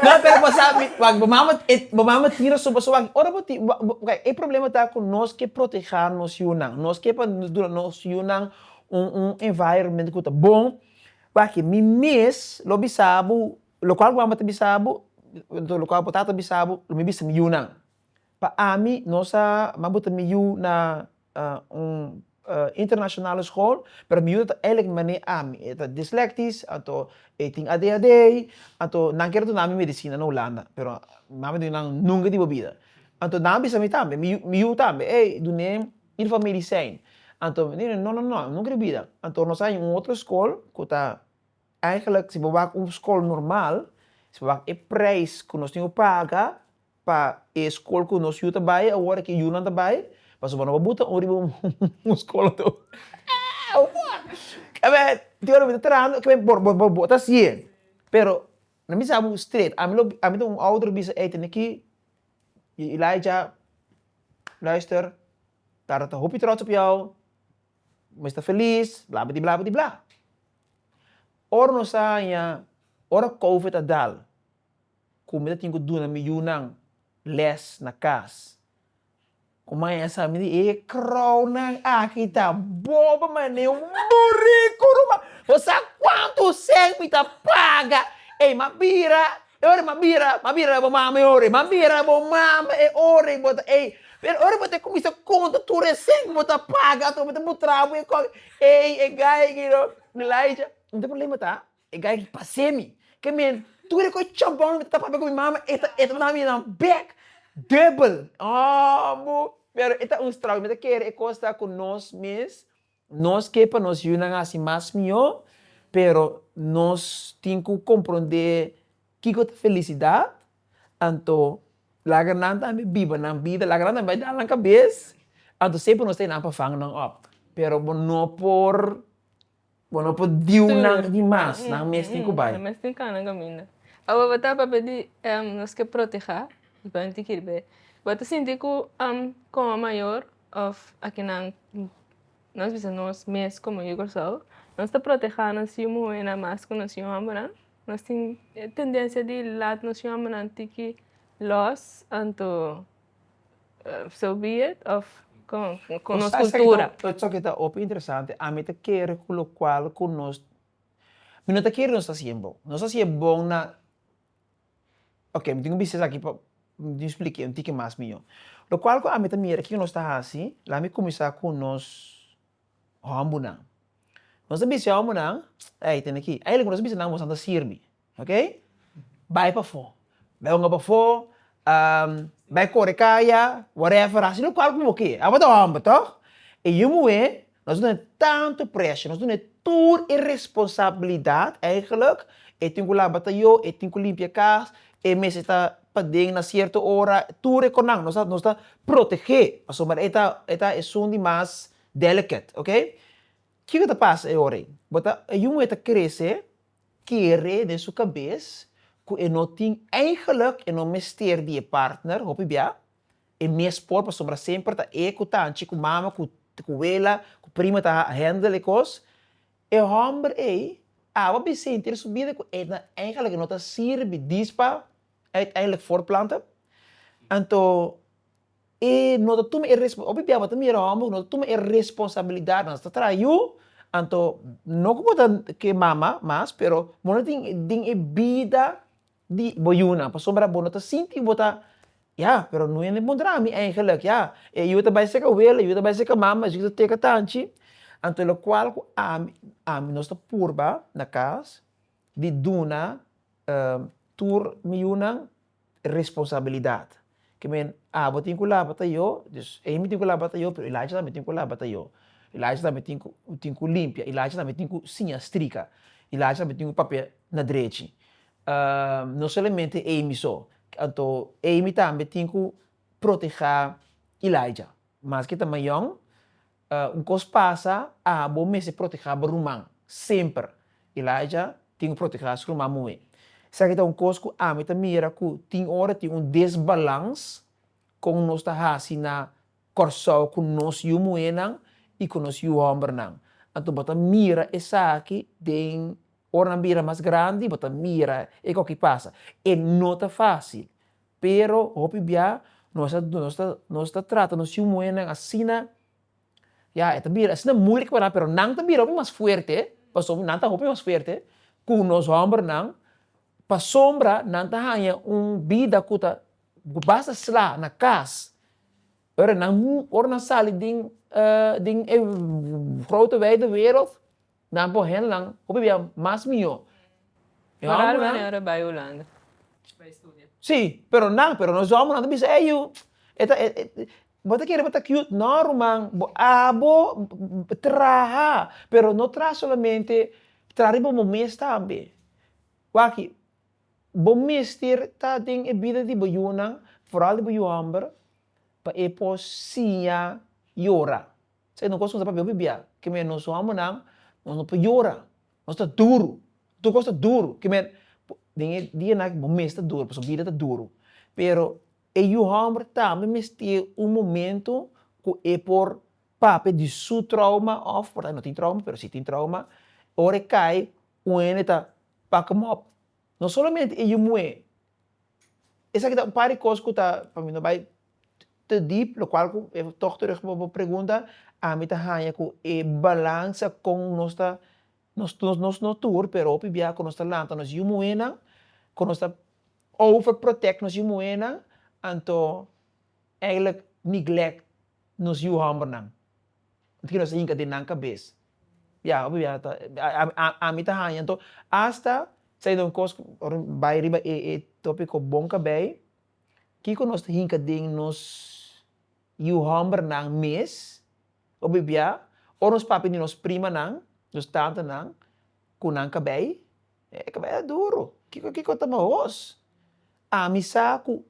Speaker 1: No, pero bo sa, wak, bo mama, bo mama tira su paso aki, ora bo ti, bo, bo, ok, e problema ta cu nos ke proteha nos yunan, nos ke pa duna nos yunan un, un environment cu ta bon, wak, mi mes lo bisa bo. Lokual ku mama ta bisa bo, lokual bo tata bisa bo, lo mi bisa mi yunan. Pa ami no sa ma bo ta mi yu na un internashonal skol, pero mi yu ta elek mane ami. E ta dislektis, anto e tin adhd, anto nan kere duna mi medisina na Hulanda, pero mi mama di nan nunka di bo bida. Anto nan a bisa mi tambe, mi yu mi yu tambe, ey dun'em in for medisin, anto mi di no no no, nunka di bida. Anto nos a haña un otro skol ku ta Eigenlijk si bo wak un skol normal, si bo wak e prijs ku nos tin ku paga pa e skol ku nos yu ta bai awor, ku e yunan ta bai, pasobra bo no bo buta un riba un skol a tur. Tabata tin ora mi ta trahando, ok, bo ta hasié, pero na mi sa bo stret, ami lo ami ta un ouder lo bisa, ey tene ki Elijah, luister, tata ta hopi trots op jou, mester feliz, bla, bidi bla, bidi bla. Ora nos a haña, ora Covid a dal, ku mi ta tin ku duna mi yunan lès na kas, ku mi a haña sa miri e kròunan aki ta boba manera un buriku, ruman. Bo sa kuantu sèn mi ta paga? Ey, m'a bira E ora m'a bira, m'a bira na bo mama e ora, m'a bira na bo mama e ora i bo ta ey. Pero ora bo ta cuminsa conta tur e cen cu bo ta paga ato bo ta mutra bo e cos, ey e gaiga no, Nilaisha, no ta problema ta, e gaiga pas'e mi, ke men tur e cos chambon mi ta tapa cu mi mama e ta e ta dami nan bek dubbel, aa mu, pero e ta un struggle, mi ta kere e cos ta cu nos mes Nos ke pa nos yunan hasi mas mihó, pero nos tin ku komprondé kiko ta felisidat, anto laga nan tambe biba nan bida, laga nan tambe bai dal nan kabes, anto semper nos ta e nan pa vang nan òp, pero bo no por bo no por diu nan di mas, nan mes tin ku bai. Nan mes tin kau nan kaminda. Awe bo ta papia di nos ke protehá, bo ta sinti ku kòm a mayor. Òf akinan nos bisa nos mes komo e Kòrsou nos ta protehá nos yu muhénan mas ku nos yu hòmbernan, nos tin e tendensia di lat nos yu hòmbernan tiki lòs anto so be it òf kon kon nos kultura. Esaki ta hopi interesante ami ta kere ku lokual ku nos mi no ta kere nos ta si e bon nos ta si e bon na Oke, mi tin ku bisa esaki pa mi tin splikia un tiki mas mihó. Lokual ku ami ta mira kiko nos ta hasi, lami kuminsá ku nos hòmbunan. Nos ta bisa e hòmbunan, ey, tene ki. Ai loke nos ta bisa nan, Bosan ta sirbi, ok? Bai pafó, bai wònga pafó, bai kore kaya, whatever, hasi lokual ku bo kier. Abo ta hòmber, tòg? E yu muhé Nos duna e tantu presha, nos duna e tur e responsabilidat, eigenlik e tin ku laba tayo, e tin ku limpia e kas, e mester ta paden na sierto ora, tur e konan nos ta nos ta protegé pasobra e ta e ta esun di mas delicate, ok. Kiko ta pasa e ora ei? Bo ta e yu muhé ta krese kere den su kabes ku e no tin, eigenlik e no mester di e partner, hopi bia. E mes por pasobra semper ta e cu tanchi cu mama cu cu wela cu prima ta handle e cos. E homber ey awa bin sinti e su bida cu e na eigenlijk no ta sirbi dis pa uiteindelijk voortplanten. Anto e no ta tuma e respo hopi biaha bo ta mira e homber cu no ta tuma e responsabilidad nan. Ta traha yu anto no cu bo ta ke mama mas pero bo no tin den e bida di bo yunan pasobra bo no ta sinti bo ta ya pero no yende encontra mi eigenlijk ya e yu ta bay seca wele yu ta bay seca mama esaki ta teka tanchi anto locual cu ami ami nos ta purba na cas di duna tur mi yunan responsabilidad. ke men abo tin ku laba ta yo, dus Amy tin ku laba ta yo, pero Ilaisha tambe tin ku laba ta yo, Ilaisha tambe tin ku tin ku limpia, Ilaisha tambe tin ku siña strika, Ilaisha tambe tin ku papia na drechi no solamente Amy so, anto Amy tambe tin ku proteha Ilaisha, maske ta mayòn. Un kos pasa, abo mester protehá bo ruman, semper. Elijah tin ku protehá su ruman muhé. Esaki ta un kos ku ami ta mira ku tin ora tin un desbalans kon nos ta hasi na Kòrsou ku nos yu muhénan i ku nos yu hòmbernan. Anto bo ta mira esaki den, ora nan bira mas grandi, bo ta mira e kòke pasa. E no ta fásil. Pero hopi bia nos ta nos ta nos ta trata nos yu muhernan asina, ya e ta bira asina moeilijk pa nan pero nan ta bira hopi mas fuerte, pasobra nan ta hopi mas fuerte ku nos hòmbernan, pasobra nan ta haña un bida ku ta basta sla na kas, ora nan ora nan sali den den e grote wijde wereld. Nan por hendelnan hopi bia mas mihó. E hòmbernan. Sí, pero nan, pero nos hòmbernan ta bisa, ey yu, e ta bo ta kere bo ta cute? No ruman, bo abo traha, pero no traha solamente, traha riba bo mes tambe. Wak, bo mester ta den e bida di bo yunan, foral di bo yu hòmber, pa e por siña yora. Esei no cos nos a papia hopi bia, ki manera nos homonan nos no por yora, nos ta duru, tur cos ta duru, ki manera den e dia nan aki bo mes ta duru pasobra bida ta duru, pero e yu homber tambe mester un momento cu e por papia di su trauma of por e no tin trauma pero si tin trauma, ora e cay un hende ta pak hem op, no solamente e yu muhé Esaki ta un par di cos cu ta, pa mi no bay te deep, lo cual cu e tog terug pa bo pregunta, ami ta hanja cu e balansa con nos ta, nos nos no tur, pero hopi biaha cu nos ta lanta nos yu muhenan, cu nos ta over protect nos yu muhenan, anto, eigenlijk neglect nos yu hombernan. Ant ki nos a hinka den nan kabes. Ya, opiba ya ta ami ta haña anto asta sai den un kos bai riba e e topiko bon kabei kiko nos ta hinka den nos yu hòmbernan mes opiba ya o nos papia di nos primanan, nos tantanan ku nan kabei e kabei a duru kiko kiko ta mahos ami sa ku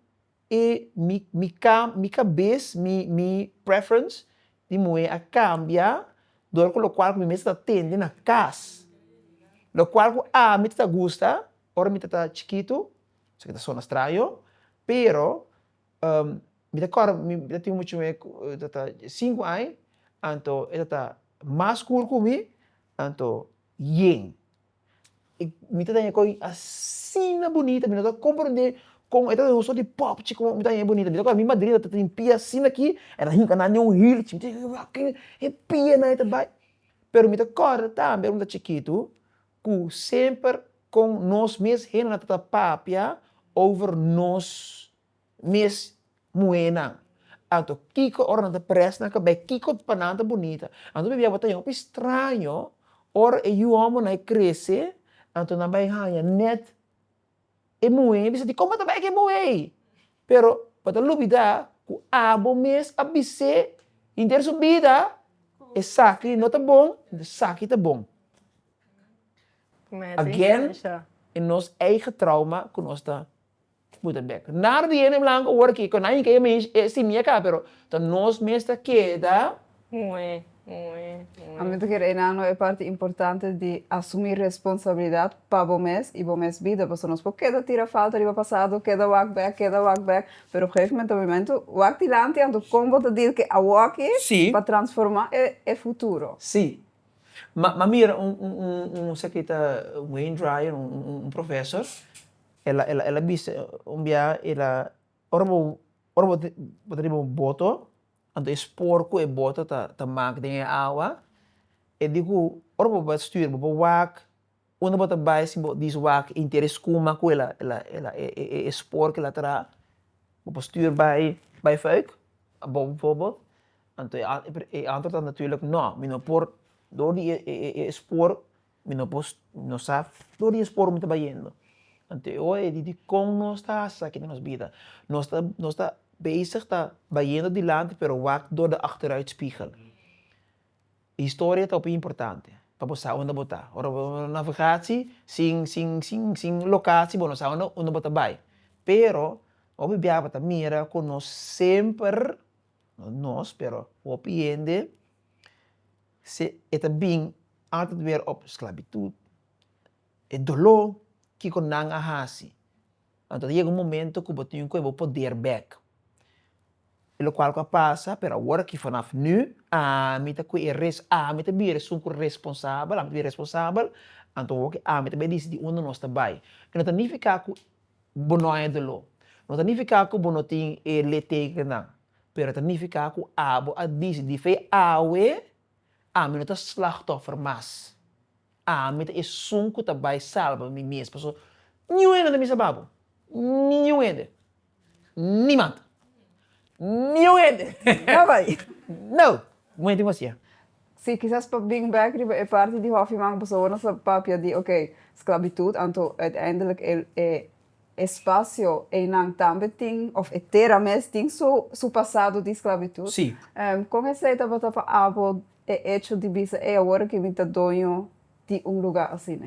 Speaker 1: E mi mi cam mi cabes mi mi preference di muhe a cambia dor cu locual cu mi mester ta tende na cas locual cu ami ta ta gusta ora mi ta ta chikito esaki ta sona straño pero mi ta cor mi ta tin mucho muhe cu ta ta cinco ai anto e ta ta mas cur cu mi anto yen. Mi ta daña kò ei asina bunita, mi no ta komprendé kon e ta den un sòt di pòp chi komo mi ta daña ei bunita. Mi ta kòrda mi madrina ta tin pia asina ki e ta hinka nan den un hil chi, mi ta yega wak ken e pianan e ta bai. Pero mi ta kòrda tambe ora mi ta chikitu ku semper kon nos mes henda ta papia over nos mes muhénan. Anto kiko ora nan ta prèst nan kabé kiko pa nan ta bunita. Anto pabia bo ta yama p'e straño ora e yu hòmbernan e krese, anto nan bai haña nèt e muhé, bisa di kòmbo ta bai ke muhé ei? Pero bo ta lubidá ku abo mes a bis'é henter su bida, esaki no ta bon, esaki ta bon. Again, e nos eigen trauma ku nos ta Bo ta bek. Nada di hende blanco awor aki, con aña key mish e simi a caba, pero ta nos mes ta keda. Moe, moe, moe. Ami ta kere e nan lo e parti importante di asumi responsabilidad pa bo mes y bo mes bida, pasobra nos por keda tira falta riba pasado, keda wak bek, keda wak bek, pero op gegeven momento, momento wak dilanti anto con bo ta deal ke awor aki Sí. pa transforma e futuro? Sí. Ma mira un un un un esaki ta un hair dryer, un un un professor. El a el a bisa un biaha el a ora bo ora bo bo ta riba un boto anto e spoor ku e boto ta ta mak den e awa e di ku ora bo bai stuur bo bo wak unda bo ta bai si bo dies wak inter e skuma ku el a el a el a e e e e spoor ku el a traha bo por stuur bai bai fuik abou bifobot anto e e antword ta natoerlik no mi no por door di e e e spoor Mi no por, no sa tur di e spor mi ta bayendo. Anto e oe di dikon nos ta hasi esaki na nos bida. Nos ta, nos ta bezig ta bayendo dilanti pero wak dor di achteruitspiegel. Historia ta hopi importante pa bo sa unda bo ta. Ora bo na navegatie sin, sin, sin, sin locatie bo no sa unda, unda bo ta bai. Pero hopi biaha bo ta mira cu nos semper, no nos pero hopi hende. Se e ta bin altet wer op sklabitut, e doló, kiko nan a hasi? Anto ta yega un momento ku bo tin ku kue bo poder bèk. E lokual ku a pasa, pero awor aki fanaf nù, ami ta kue e res, ami ta bira esun ku responsabel, ami ta bira responsabel, anto awor aki ami ta bai disidi unda nos ta bai. E no ta nifiká ku bo no haña doló, no ta nifiká ku bo no tin e lete ei nan. Pero ta nifiká ku abo a disi, Di fe awe, ami no ta slachtòffer mas. Ami ta esun ku ta bai salba mi mes, pasobra niun hende no ta misa babu. Niun hende. Niemand. Niun hende. No! Moña tin ku hasié. Sí, kisas pa bring back riba e parti di Hoffyman ku pasobra nos a papia di, oké, sklabitut, anto uiteindelik e. E spasio einan tambe tin, of e tera mes, tin su su pasado di sklabitut. Sí. Kon esei tabata pa abo e echo di bisa, Ei, awor aki mi ta doño di un lugá asina?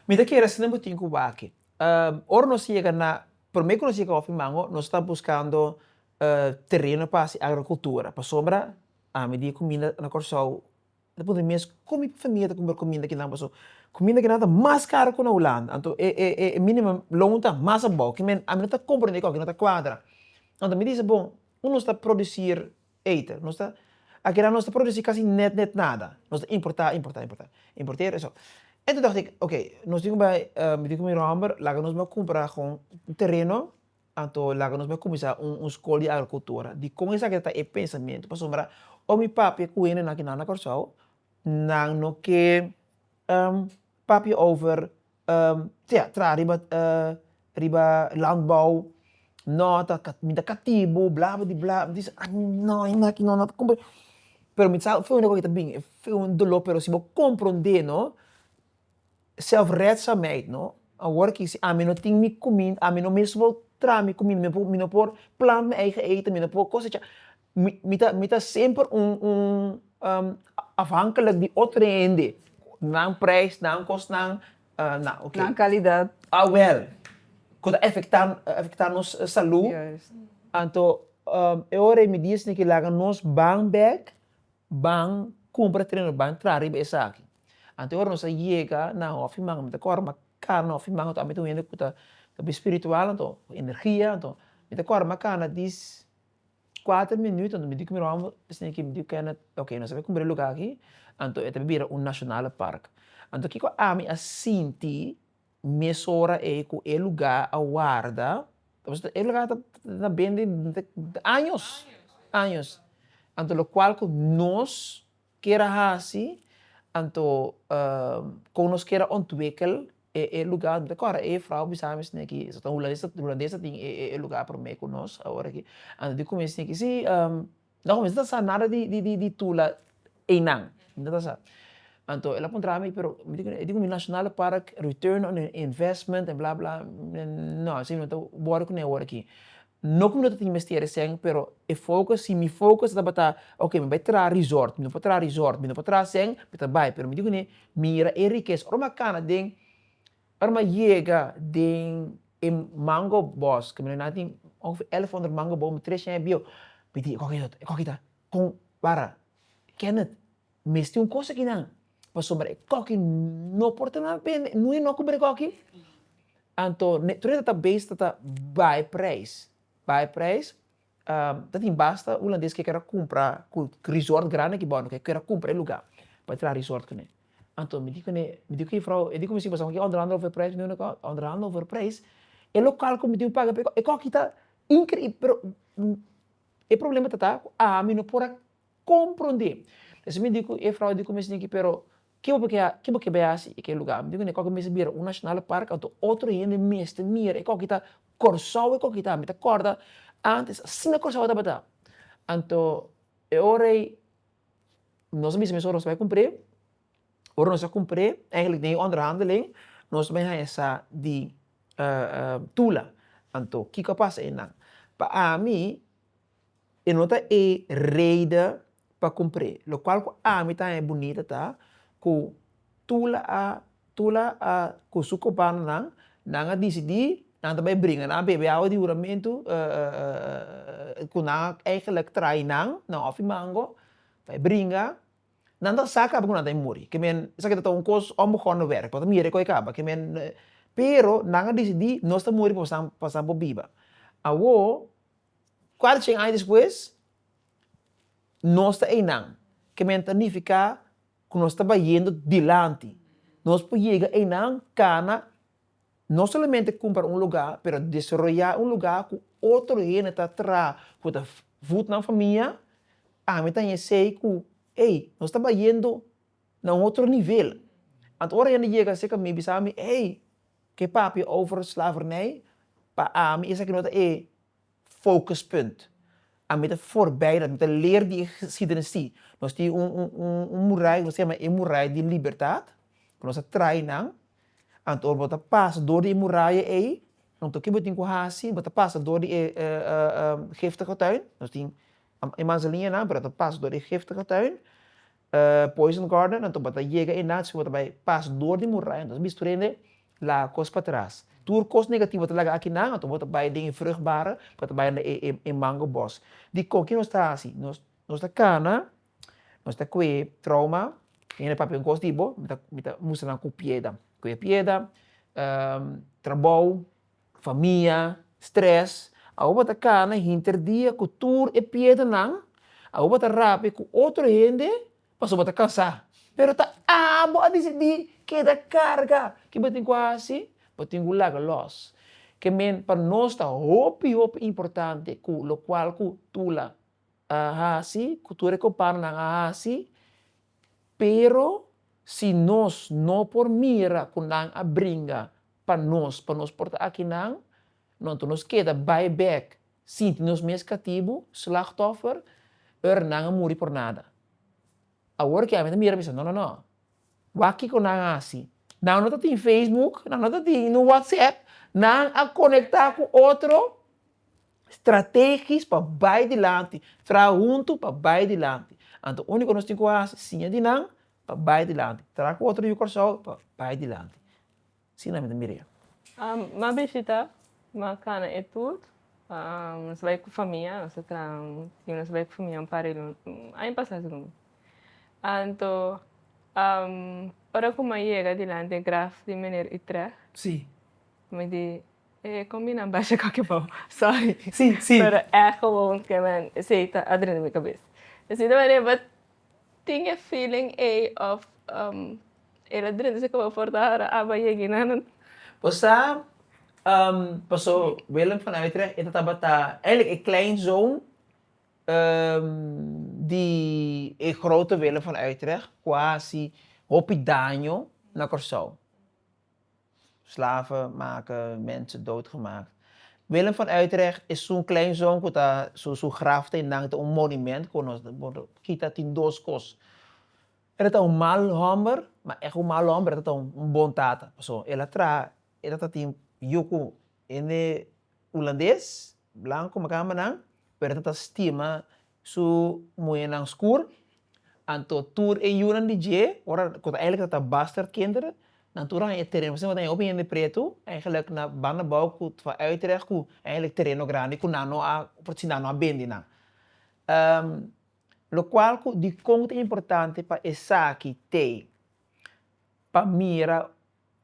Speaker 1: Mi ta kere asina bo tin Cuba aki. Ora nos yega na, promé ku nos yega Hopi Mango, nos ta buskando tereno pa hasi agrokultura, pasobra ami di kuminda na Kòrsou Ta puntra mi mes kon mi famia ta compra cuminda kinan pasobra cuminda kinan ta mas caro cu na Hulanda anto e e e minimum loan ta mas abao kimen a mi no ta compra dje coki no ta cuadra anto mi dice bon hoe nos ta producir eten nos ta akinan nos ta producir casi net net nada nos ta importa importa importa importer eso enton dacht ik ok nos tin cu bai mi tin cu mi romber laga nos bai cumpra gon un tereno Anto laga nos bai kuminsá un un skol di agrikultura dikon esaki ta e pensamentu pasobra oi mi papia ku hende nan ku nan na Kòrsou nan no ke papia over sea traha riba riba landbou nò ta ka mi ta katibu bla bla di bla mi ta bisti nò e naki nò nan ta kompren pero mi sa afe hopi ta bini afe un doló pero si bo komprondé no. Zelfredzaamheid no awor kisi ami no tin mi kuminda ami no mes por traha mi kuminda mi no por mi no por plant mi eigen eten mi no por kosecha mi mi ta mi ta semper un un afhankelijk di otro hende nan prijs nan kosnan na oke nan kalidad awel ku ta efekta efekta nos salu anto e ora ei mi di esaki laga nos ban bek ban kumpra tereno ban traha riba esaki. Anto ora nos a yega na hofi man mi ta kòrda ma kara na hofi man anto ami ta un hende ku ta bi spiritual anto ku energia anto mi ta kòrda ma kana dis kuater minüt anto mi di ku mi ròmber bisne ki mi di kena oke nos a bin kumbra e lugá aki anto e ta bira un nashonale park anto kiko ami a sinti mes ora ei ku e lugá a warda e lugá ta ta bende años años anto lokual ku nos kier a hasi, anto kon nos kier a ontwikkel e luga anto. Kòrda e jufrou a bisa mi esne aki, esaki ta un hulandes ta tin e luga promé ku nos awor aki, anto di kuminsha esne aki si no a kuminsha ta sa nada di tula einan, no ta sa, anto el a puntra mi pero e di ku mi national park return on investment en bla bla mi esne no esaki no ta wòrdu kuné awor aki. No cu mi no ta tin mester eseng, pero e focus, si mi focus tabata ok, mi bai traha resort, mi no por traha resort, mi no por traha eseng, mi ta bai. Pero mi dico ne, mira e riqueza. Ora m'a cana den, ora m'a yega den e mango bos, caminda nan tin ongeveer elf honderd mango bos, mi tres aña bieu, mi di, e coki ta, e coki ta? Con, wara, Kenneth. Mester un cosa aquí nan, pasobra e coki no por ta na bende, no e no cuber e coki, anto tur e database ta ta bay prijs, bay prijs, ta tin basta hulandes que quiera cumpra cu resort grandi aki bounan, que quiera cumpra e lugar pa traha resort cune, anto mi di cune, mi di cu e vrouw, mi di cu mi esposa, mi onderhandel over e prijs, mi di cune, onderhandel over e prijs, e local cu mi tin paga pa e coki, e coki ta increib pero e problema ta ta cu ami no por a Komprondé. P'esei mi di ku e frou di ku mester yaki, pero ke bo ke ke bo ke bai hasi i ke lugá? Mi di ku ne koki mester bira un nashonal park anto otro hende mester mira e koki ta Kòrsou e koki ta. Mi ta kòrda ántes asina Kòrsou a tabata. Anto e ora ei nos a bisa mes ora nos ta bai kumpr'é, ora nos ta kumpr'é eigentlik den e onderhandeling nos bai haña sa di tula. Anto kiko a pasa einan? Pa ami. E no ta e reida pa cumpr'é. Locual cu ami ta haña bunita ta, cu Tula a Tula a cu su cobanonan, nan a dicidi nan ta bay bringa, nan a bebe awa di huramentu cu nan a eigenlijk traai nan na Hòfi Mango, bay bringa, nan ta sa caba cu nan ta bay muri, cu men esaki ta un cos onbegonnen werk, bo ta mira e coi caba, cu men pero nan a dicidi nos ta muri pa pasan bo biba. Awo Kuater cien aña despues, nos ta einan. Kemey ta nifiká ku nos ta bayendo dilanti. Nos por yega einan kana no solamente kumpra un lugá, pero desaroyá un lugá ku otro hende ta traha, ku ta vùt nan famia. Ami tambe esei ku, ey, nos ta bayendo. na un otro nivel. Anto ora hende yega acerca mi bisa mi, ey, ke papia over slavernij, pa ami esaki no ta e focuspunt. Ami ta forbij dat, mi ta leer di e geschiedenis si. Nos tin un murai ku nos ta yama e murai di libertad, ku nos a traai nan, anto ora bo ta pasa dor di e muraya ei, anto ke bo tin ku hasi, bo ta pasa dor di e giftige tuin, nos tin e manzanianan, pero bo ta pasa dor di e giftige tuin, E poison guard nan topa ta yega e nazi ku ta bai pas dor di muraya, entonces e bisturia yende laga kos pa tras. Tur kos negativo ta laga aki nan, anto bo ta bai den e vruchtbare pa ta bai na e mango bos. Dikon ke nos ta hasi? Nos ta kana, nos ta kue trouma, mi yende papia un kos di bo, mi ta mi ta mustra nan ku pieda, kue pieda, trabou, Famia, stress, Aruba ta cana hinter dia cu tur e piedanan, Aruba ta rapi cu otro hende pasobra bo ta cansa. Pero ta abo a dicidi keda carga. Ki bo tin cu a haci? Bo tin cu laga los. Ke men pa nos ta hopi hopi importante cu locual cu Tula a haci, cu tur e compananan a haci, pero si nos no por mira cu nan a bringa pa nos, pa nos por ta akinan, no anto nos keda bai bek, sinti nos mes katibu, slachtoffer, ur nan a muri por nada. Awor ke ami ta mira mi sa, no no no, wak kiko nan a hasi, nan no ta tin facebook, nan no ta tin un whatsapp, nan a konekta ku otro strategis pa bai dilanti, traha huntu pa bai dilanti. Anto uniko ku nos tin ku hasi, siña di nan pa bai dilanti, traha ku otro yu Kòrsou pa bai dilanti. Si nan mi ta miria. M'a bishita, m'a cana e tur. Nos a bai cu famia, nos a traha tin nos a bai cu famia un par di luna, aña pasa si como. Anto ora cu m'a yega dilanti e graf di meneer Utrecht, mi di, E con mi nan basha coke bo? Sorry, pero echo bo, esey ta adren di mi cabes. Esey ta marea, but Tin e feeling ey of umm e ladrin deci cu bo por ta hora aba yegi na nan. Bo sa umm paso Willem van Uitrecht e ta tabata eigenlijk e kleinzoon umm di e grote Willem van Uitrecht cu a hasi hopi daño na Corsou. Slaven make mensen dood gemaakt. Willem van Utrecht is zo'n klein zoon ku ta su su graf ta innan ta un monument ku nos por kita tin dos kos. Ela ta un mal hòmber, ma èk un mal hòmber, ela ta un bon tata. Pasobra ela traha, ela ta tin yu ku Hende Hulandes, blanco, macamba nan, Bertha ta stima su muhernan skur, anto tur e yunan di dje, ora cu ta eigenlijk ta bastard kinderen, nan tur a haña e tereno pasobra nan haña hopi hende pretu, eigenlijk na banda bou cu ta van Utrecht cu eigenlijk tereno grandi cu nan no a porci nan no a bendi nan. Locual cu dicon ta importante pa esaki tey pa mira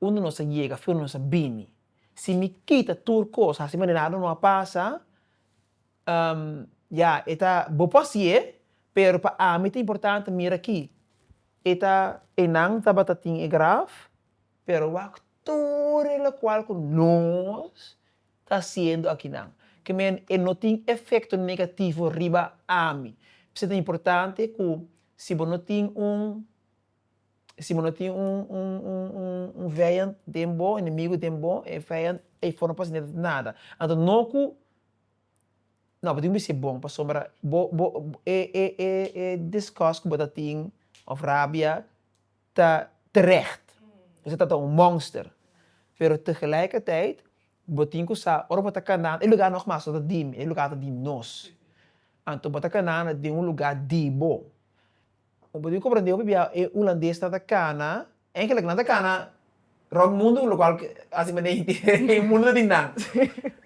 Speaker 1: Unda nos a yega afí unda nos a bini. Si mi kita tur kos, hasi manera nada no a pasa, ya, e ta, bo por hasié, pero pa ami ta importante mira akí, e ta, enan tabata tin e graf, pero wak tur e lokual ku nos ta hasiendo akinan. Ke men e no tin efekto negativo riba ami. P'esei ta importante ku si bo no tin un. Si bo no tin un un vijand den bo, enemigo den bo, e vijand ei for no pasa neda ta nada. Anto no ku, no bo tin ku bis'e bon pasobra bo bo e e e e disgust ku bo ta tin of rabia ta terecht. Esa tabata un monster. Pero tegelijkertijd bo tin ku sa ora bo ta kanda e lugá nogmas no ta di mi, e lugá ta di nos. Anto bo ta kanda den un lugá di bo. Bo por comprende hopi bia e hulandes ta ta cana, eigenlijk nan ta cana rond mundo, locual haci mende ey tin e mundo ta tin nan.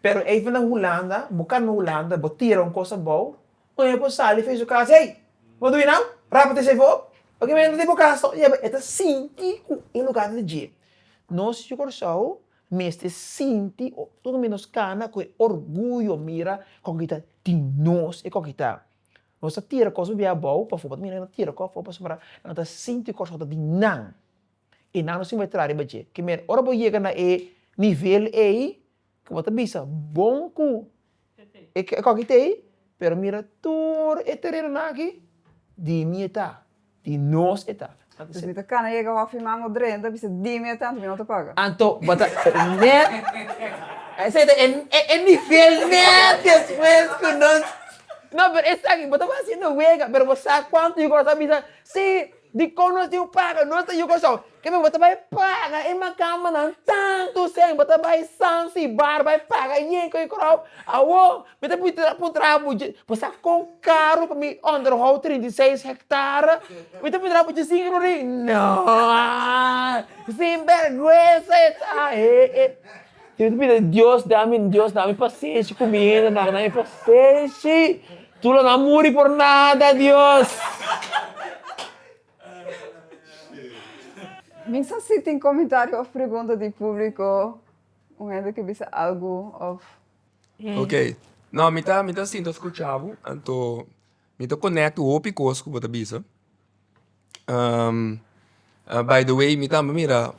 Speaker 1: Pero ey ta na Hulanda, bo cana na Hulanda, bo tira un cos abao, un hende por sali face bo cas, hey! Bo ta win now? Rap tesa ey for op! Oke men, ey ta casa so. Ey a ta sinti cu e lugar ta dje. Nos yu Curaçao mester sinti, tur mi nos cana cu e orguyo, mira coke ta tin nos, e coke ta. Nos ta tira kos bibia abou pasobra nan ta tira kos afó pasobra nan ta sinti kos ku ta di nan i nan no sin bai tra riba dje. Ke manera ora bo yega na e nivel ei ku bo ta bisa bon ku e kòkitei pero mira tur e terenonan aki di mi e ta. Di nos e ta. Pues mi ta cana yega hof mi manga odrey, enta bisa dime e tanto mi no ta paga. Anto bo ta net esey ta e nivel net despues cu nos. No pero esaki bo ta haciendo wega pero bo sa cuanto yo Curaçao bisa si dicon nos tin un paga nos ta yo Curaçao Kiko bo ta bai paga e makambanan tantu seng? Bo ta bai Sansibar bai paga yen ku e korou? Awo mi ta pui tra puntra bo dje bo sa kon karu pa mi onderhou trinta i seis hektara? Mi ta puntra bo djising rorei? No aa sinbergwensa e ta e e mi ta pidi Dios dami Dios dami pasenshi ku mi hende nan dami pasenshi tur lo nan muri por nada Dios. Mi sa si tin komentario of pregunta di publiko, un hende ke bisa algu of. Ok, no mi ta mi ta sinta skucha bo anto mi ta konekt hopi kos ku bo ta bisa, by the way mi tambe mira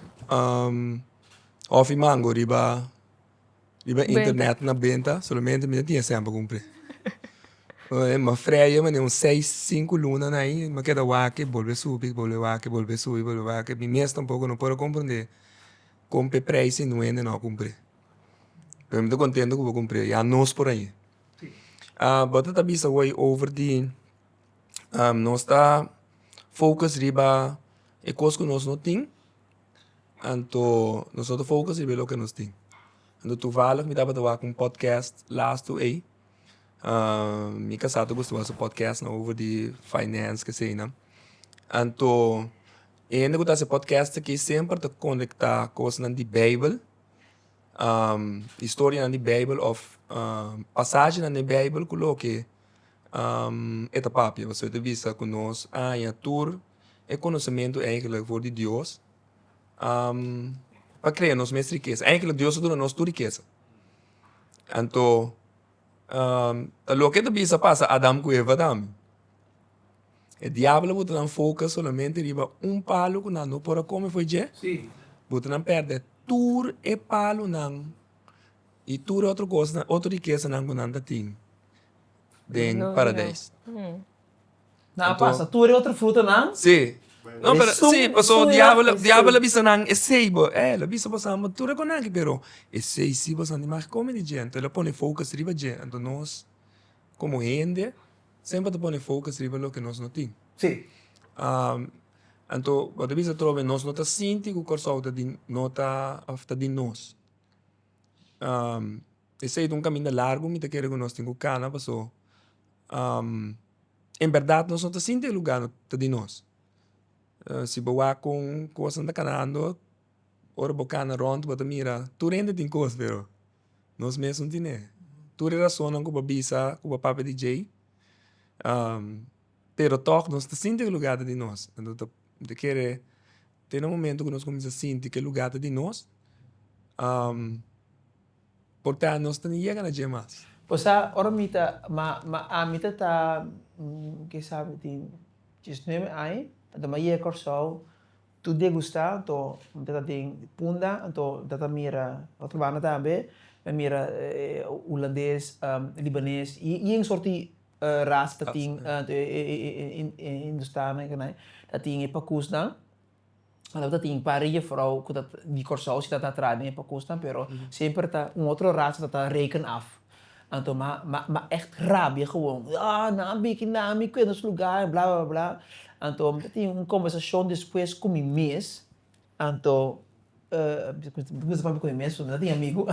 Speaker 1: Offimango riba. Riba e internet na benta solamente mi no tin esempel cumpli. Mi a freya manera un seis, cinco luna na ayi mi a keda wak bolbe subi, bolbe wak, bolbe subi, bolbe wak. Mi mes tampoco no por a comprende con pe prijs y nuende no a cumpli. Pero mi ta contento cu bo a cumpli. Ya nos por ayi. Ah bo ta ta bisa awor over di nos ta focus riba e cos cu nos no tin anto nosoto focus riba e loke nos tin. Anto tuvalig mi tabata wak un podcast lastu ey, mi ca sa ta gusta wak su podcastnan over di finance cu eseynan. Anto e hende cu ta hasi podcast aki semper ta conecta cosnan di bijbel, historianan di bijbel of pasajenan den bijbel cu loke e ta papia. Pasobra e ta bisa cu nos aña tur. E konosementu enkele for di Dios pa krea nos mes rikesa enkele Dios a duna nos tur rikesa anto ta loke ta bisa pasa Adam ku Eva tambe e diablo a wota nan foka solamente riba un palu ku nan no por a kome foi dje wota nan pèrdè tur e palunan i tur otro kosnan otro rikesanan ku nan ta tin den Paradeis. Nan a pasa tur e otro frutanan. Sí. No, pero sí, pasobra diabel, diabel a bisa nan esei bo, eh, el a bisa boso amo tur e conanke, pero esei sí boso no mag come di dje, enton el a pone focus riba dje, enton nos como hende semper ta pone focus riba loke nos no tin. Sí. Anto bo ta bisa atrobe nos no ta sinti cu Curaçao ta di, no ta ta di nos. Esey ta un caminda largo mi ta kere cu nos tin cu cana pasobra en berdad nos no ta sinti e lugar ta di nos si bo wak con cosnan ta canando ora bo cana rond bo ta mira tur hende tin cos pero nos mes no tine tur e razonnan cu bo a bisa cu bo a papia di djey pero toch nos ta sinti cu e lugar ta di nos mi ta kere tene un momento cu nos cuminsa sinti cu e lugar ta di nos. Por ta nos ta na yega na dje mas. Bo sa ora mi ta ma ma ami ta ta kisa mi tin diesnuebe aña anto mi a yega Kòrsou tur dia gusta anto mi ta ta den punda anto mi ta ta mira otro banda tambe mi a mira hulandes libanes i i un sorti rasa ta tin hindustanan i kinan ta tin e pakùsnan. Anto ta tin par juffrouw cu ta di Corsou si ta ta traha den e Pakoestan pero semper ta un otro raza ta ta reken af. Anto ma ma echt rabia gewoon. Yaa nan a beki nan mi kuen nos lugar en bla bla bla. Anto mi ta tin un conversacion despues cu mi mes. Anto bisa papi cu mi mes porque mi no tin amigo.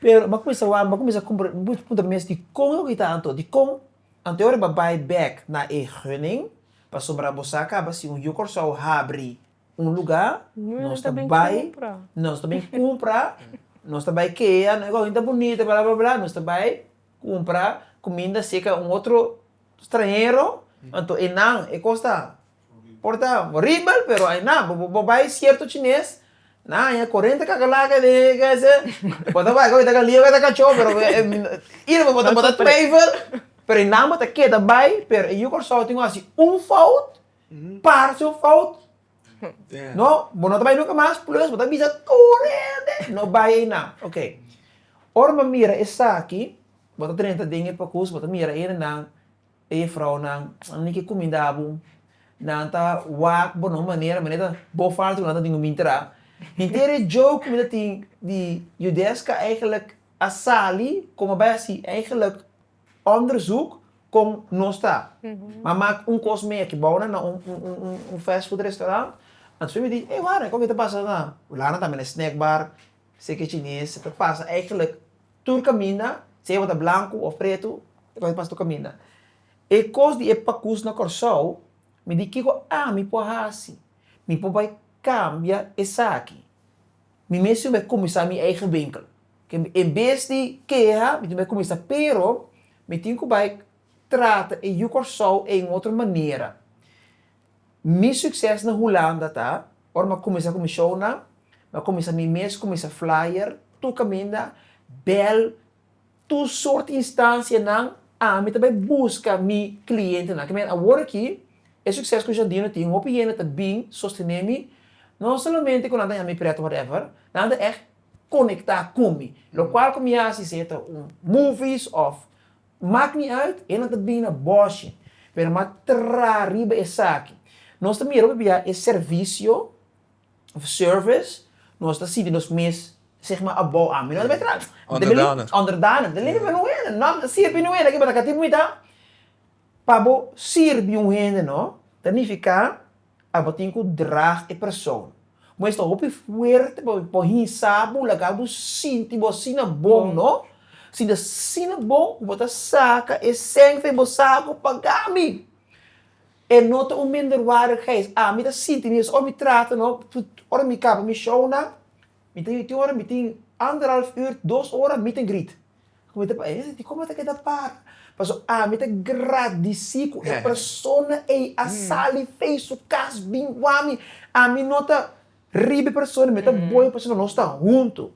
Speaker 1: Pero ba cuminsa wak, ba cuminsa cumpra, mi puntra mi mes dicon lo ki ta anto? Dicon? Anto e ora ba bay back na e hunning. Pasobra bo sa caba si un Yu Corsou habri un luga, nos ta bay, nos ta bay cumpra, nos ta bay kea, nos tabay ta bunita bla bla bla, nos ta bay cumpra cuminda seca un otro stranhero, anto e nan e cos ta por ta horibel pero ayna bo bay cierto chines. Na aña korente kaka laga di kese bo ta bai oita ka lio oita ka cho pero ira bo ta bo ta twijfel pero e nan bo ta keda bai pero e yu Kòrsou tin ku hasi un fout parse un fout no bo no ta bai nunka mas plus bo ta bisa tur hende no bai ei nan oke ora bo mira esaki bo ta drenta den e pokus bo ta mira hende nan. E jefrounan, Nan tin ke kuminda abu. Nan ta wak bo na un manera, manera bo falta ku nan ta tin ku mintra. Henter e joke ku mi ta tin di Yudeska eigenlijk a sali kon a bai hasi eigenlijk onderzoek kon nos ta. Nan mak un kos mea ki bounan na un fast food restaurant. Anto su mi di, Ey wara, e kon ke ta pasa na, laga nan tambe na snack bar, seke chines, ta pasa eigenlijk. Tur kaminda, sea bo ta blanku of pretu, e kos di pasa tur kaminda. E kos di e pakus na Kòrsou, mi di kiko ami por hasi? Mi por bai kambia esaki. Mi mes tin bai kuminsá mi eigen winkel. En bes di keha, mi tin bai kuminsá. Pero mi tin ku bai trata e Yu Kòrsou ein otro manera. Mi succes na Hulanda ta, ora mi a cuminsa cu mi shownan, mi a cuminsa mi mes cuminsa flyer tur caminda, bel tur soort instancianan, ami ta bay busca mi clientenan. Ke manera awor aki, e succes cu Jardino tin, hopi hende ta bin sostene mi, no solamente cu nan ta yaha mi pret whatever, nan ta echt conecta cu mi, locual cu mi haci, sea ta un movies of Mak ni uit, enan ta bini na bòshi, pero m'a tra riba esaki. Nos ta mira pabia e servisio òf service nos ta sinti nos mes zeg ma abou ami. Nos ta mira, Onderdana. Onderdana. Mi ta limpi pa un hende. No, mi ta sirbi un hende aki, bata ka tin muita. Pa bo sirbi un hende no ta nifiká Abotin ku drag e persoon. Bo esta hopi fuerte pa bo hinsa bo laga bo sinti bo asina bon no. Si ta asina bon ku bo ta saka e seng fe bo sa ku paga mi. E no ta un minderwaardigheid. Ami ta sinti mi asin ora mi trata no ora mi kaba mi show nan. Mi ta yoti ora mi tin anderhalf uur, dos ora meet and greet. Ku mi ta pensa, Hesdje, dikon bo ta keda para? Pasobra ami ta gradisí ku e persona ei a sali fei su kas bin wak mi. Ami no ta riba e persona, mi ta boe pasobra nos ta huntu.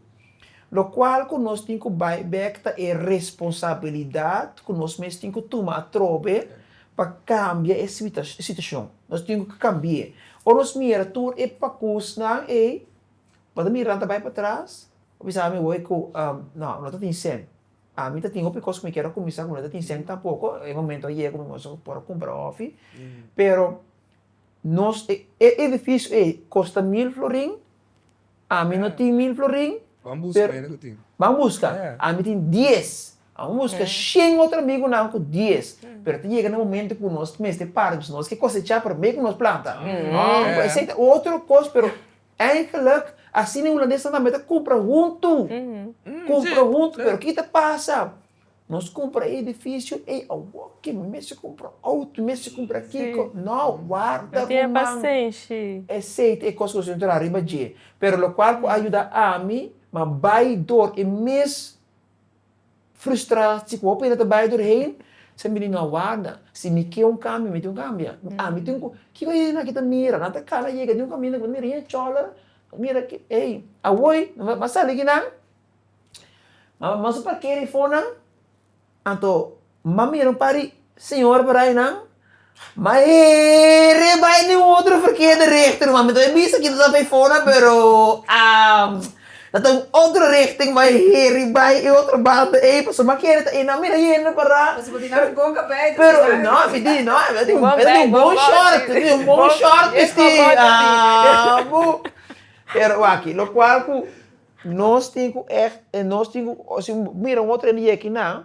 Speaker 1: Lokual ku nos tin ku bai bèk ta e responsabilidat ku nos mes tin ku tuma atrobe pa kambia e situashon. Nos tin ku kambi'é. Ora nos mira tur e pakúsnan ei, Ora ta mirá ta bai patras a bisa ami wei ku no no ta tin sèn ami ta tin hopi kos ku mi kier a kuminsá ku no ta tin sèn tampoko e momento a yega ku mi ngos a por a kumpra hòfi pero nos e e edifisio ei kosta mil florin ami no tin mil florin pero ban buska ami tin dies Amo mi busca shen otro amigonan cu dies, pero ta yega na momento cu nos mester para because nos ke cosecha prome cu nos planta. Esey ta otro cos, pero eigenlijk asina e Hulandesan tambe ta cumpra huntu, cumpra huntu. Pero ki ta pasa? Nos cumpra e edificio ey awor ke mi mester cumpra auto, mi mester cumpra kico. No, warda ruman. Esey ta e cos cu nos tin traha riba dje. Pero locual cu a yuda ami, ma bay door e mes Frustra si ku hopi hende ta bai tur heen sa mi no aguarda si mi ke un kambio mi tin ku kambia ami tin ku kiko hende aki ta mira nan ta kala yega di un kaminda ku nan ta mira heen chola mira aki ey awor nan mas sali ki nan mas a parkera i fo nan anto M'a mira un par di señora por ai nan, m'a hera e bai n'e otro verkeder richting nomás. Mi ta bai bisa kita ta Faifona pero ta ta un otro richting m'a hera i bai e otro banda ei pasobra m'a kere ta ei nan mira yende pará. Pasobra bo tin nan boka bai ta bisa nan. No, mi tin no, mi tin un tin un bon short, mi tin un bon short bisti abu. Pero wak, lokual ku nos tin ku ègt nos tin ku si bo mira un otro hende yeki nan.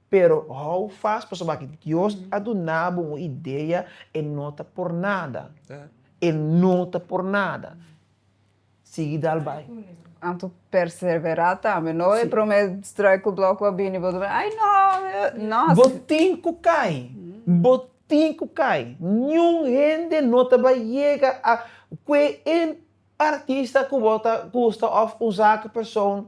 Speaker 1: Pero hou fas pasobra ki Dios a duna bo un idea, e no ta por nada, e no ta por nada. Sigui dal bai. Anto persevera tambe, no e prome struikelblok a bini bo dor, ai no, no. Bo tin ku kai, bo tin ku kai, niun hende no ta bai yega a kue en artista ku bo ta gusta of un zaak persoon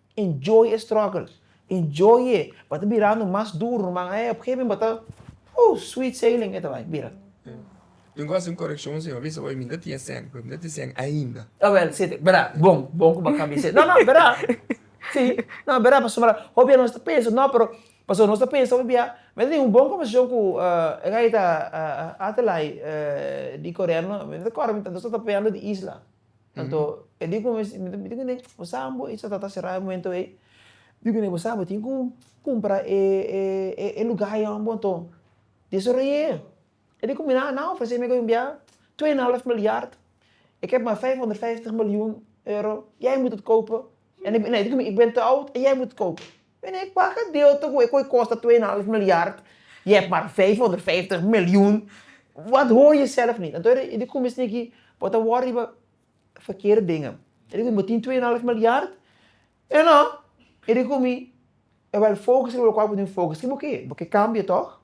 Speaker 1: Enjoy e struggle. Enjoy e. Bo ta birando mas duro nomas. Op e gegemen bo ta, Ooh, sweet sailing e ta bai bira. Tin ku hasi un korekshon si. Bo bisa bo, mi no ta tin e sèn, mi no tin e sèn ainda. Ta wèl, si. Bra, bon, bon ku bo a kambia e sèn. No, no, bra. Si. No, bra, pasobra ahora hopi dia nos ta pensa, no, pero, pasobra nos ta pensa hopi bia, mi no ta tin un bon konversashon ku e gay ta Adelaide di Korea, no. Mi no ta kòrda, nos tabata papeando di isla. Anto e di ku mi, mi di ku ne, bo sa bo i sa ta ta será e momento ei? Mi di ku ne, bo sa bo tin ku kumpra e e lugá ei wan bo anto desoroy'é. E di ku mi, nan a ofresé mi gobimbia twee en half miljard, ik heb maar vijfhonderdvijftig miljoen euro, jij moet het kopen. E di ku mi, ik ben te oud en jij moet het kopen. P'e e paga deuta ku e ku e kosta twee en half miljard i e para vijfhonderdvijftig miljoen, wat hoor je zelf niet. Anto e di kuminsá niki bo ta wòrdu riba verkeerde dingen. E di kumi bo tin twee en half miljard, eno e di kumi e wòl fokus riba lokual bo tin fokus. Ke bo ke? Bo ke kambia tòg?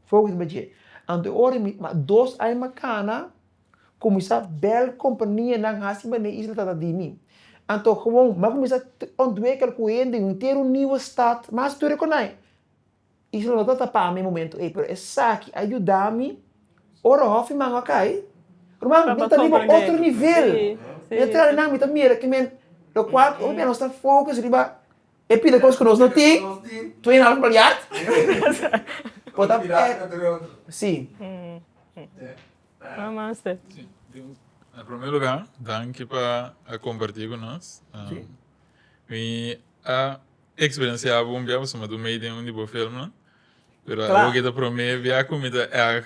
Speaker 1: Fokus riba dje. Anto e ora mi, ma dos aña makana Kuminsá bèl kompanianan hasi manera e isla tabata di mi. Anto gewoon m'a kuminsá ontwikkel ku hende un henter niu stat mas tur ku nai. Isla no tabata pa mi e momentu ei, pero esaki a yuda mi ora hòfi mango a kai, ruman mi ta riba otro nivel. Mi a traha nan, mi ta mira ke men, lokual hopi dia nos ta fokus riba e pila kos ku nos no tin, twee en half milyard. Si. Namaste. Na prome lugá, danki pa a kompartí ku nos. Mi a eksperensiá bo un bia pasobra mi ta mei den un di bo filmnan, pero awor ke ta prome bia ku mi ta èg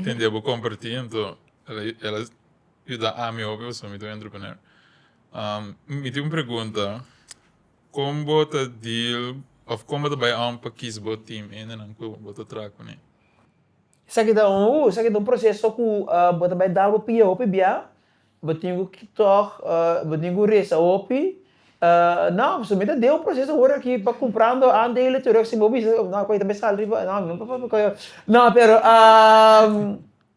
Speaker 1: tende bo kompartí, anto el a yuda ami hopi pasobra mi ta un entrepreneur. Mi tin un pregunta, kon bo ta deal òf kon bo ta bai òm pa kis bo team, endenan ku bo ta traha kuné? Esaki ta un uh, esaki ta un proceso cu bo ta bay dal bo pia hopi bia, bo tin cu tog bo tin cu reza hopi, no, so mi ta deo un proceso awor aki pa cumprando aandelen tur esaki bo bisa, no cu ayi ta bay sal riba, no mi no por papia cu ayi, no pero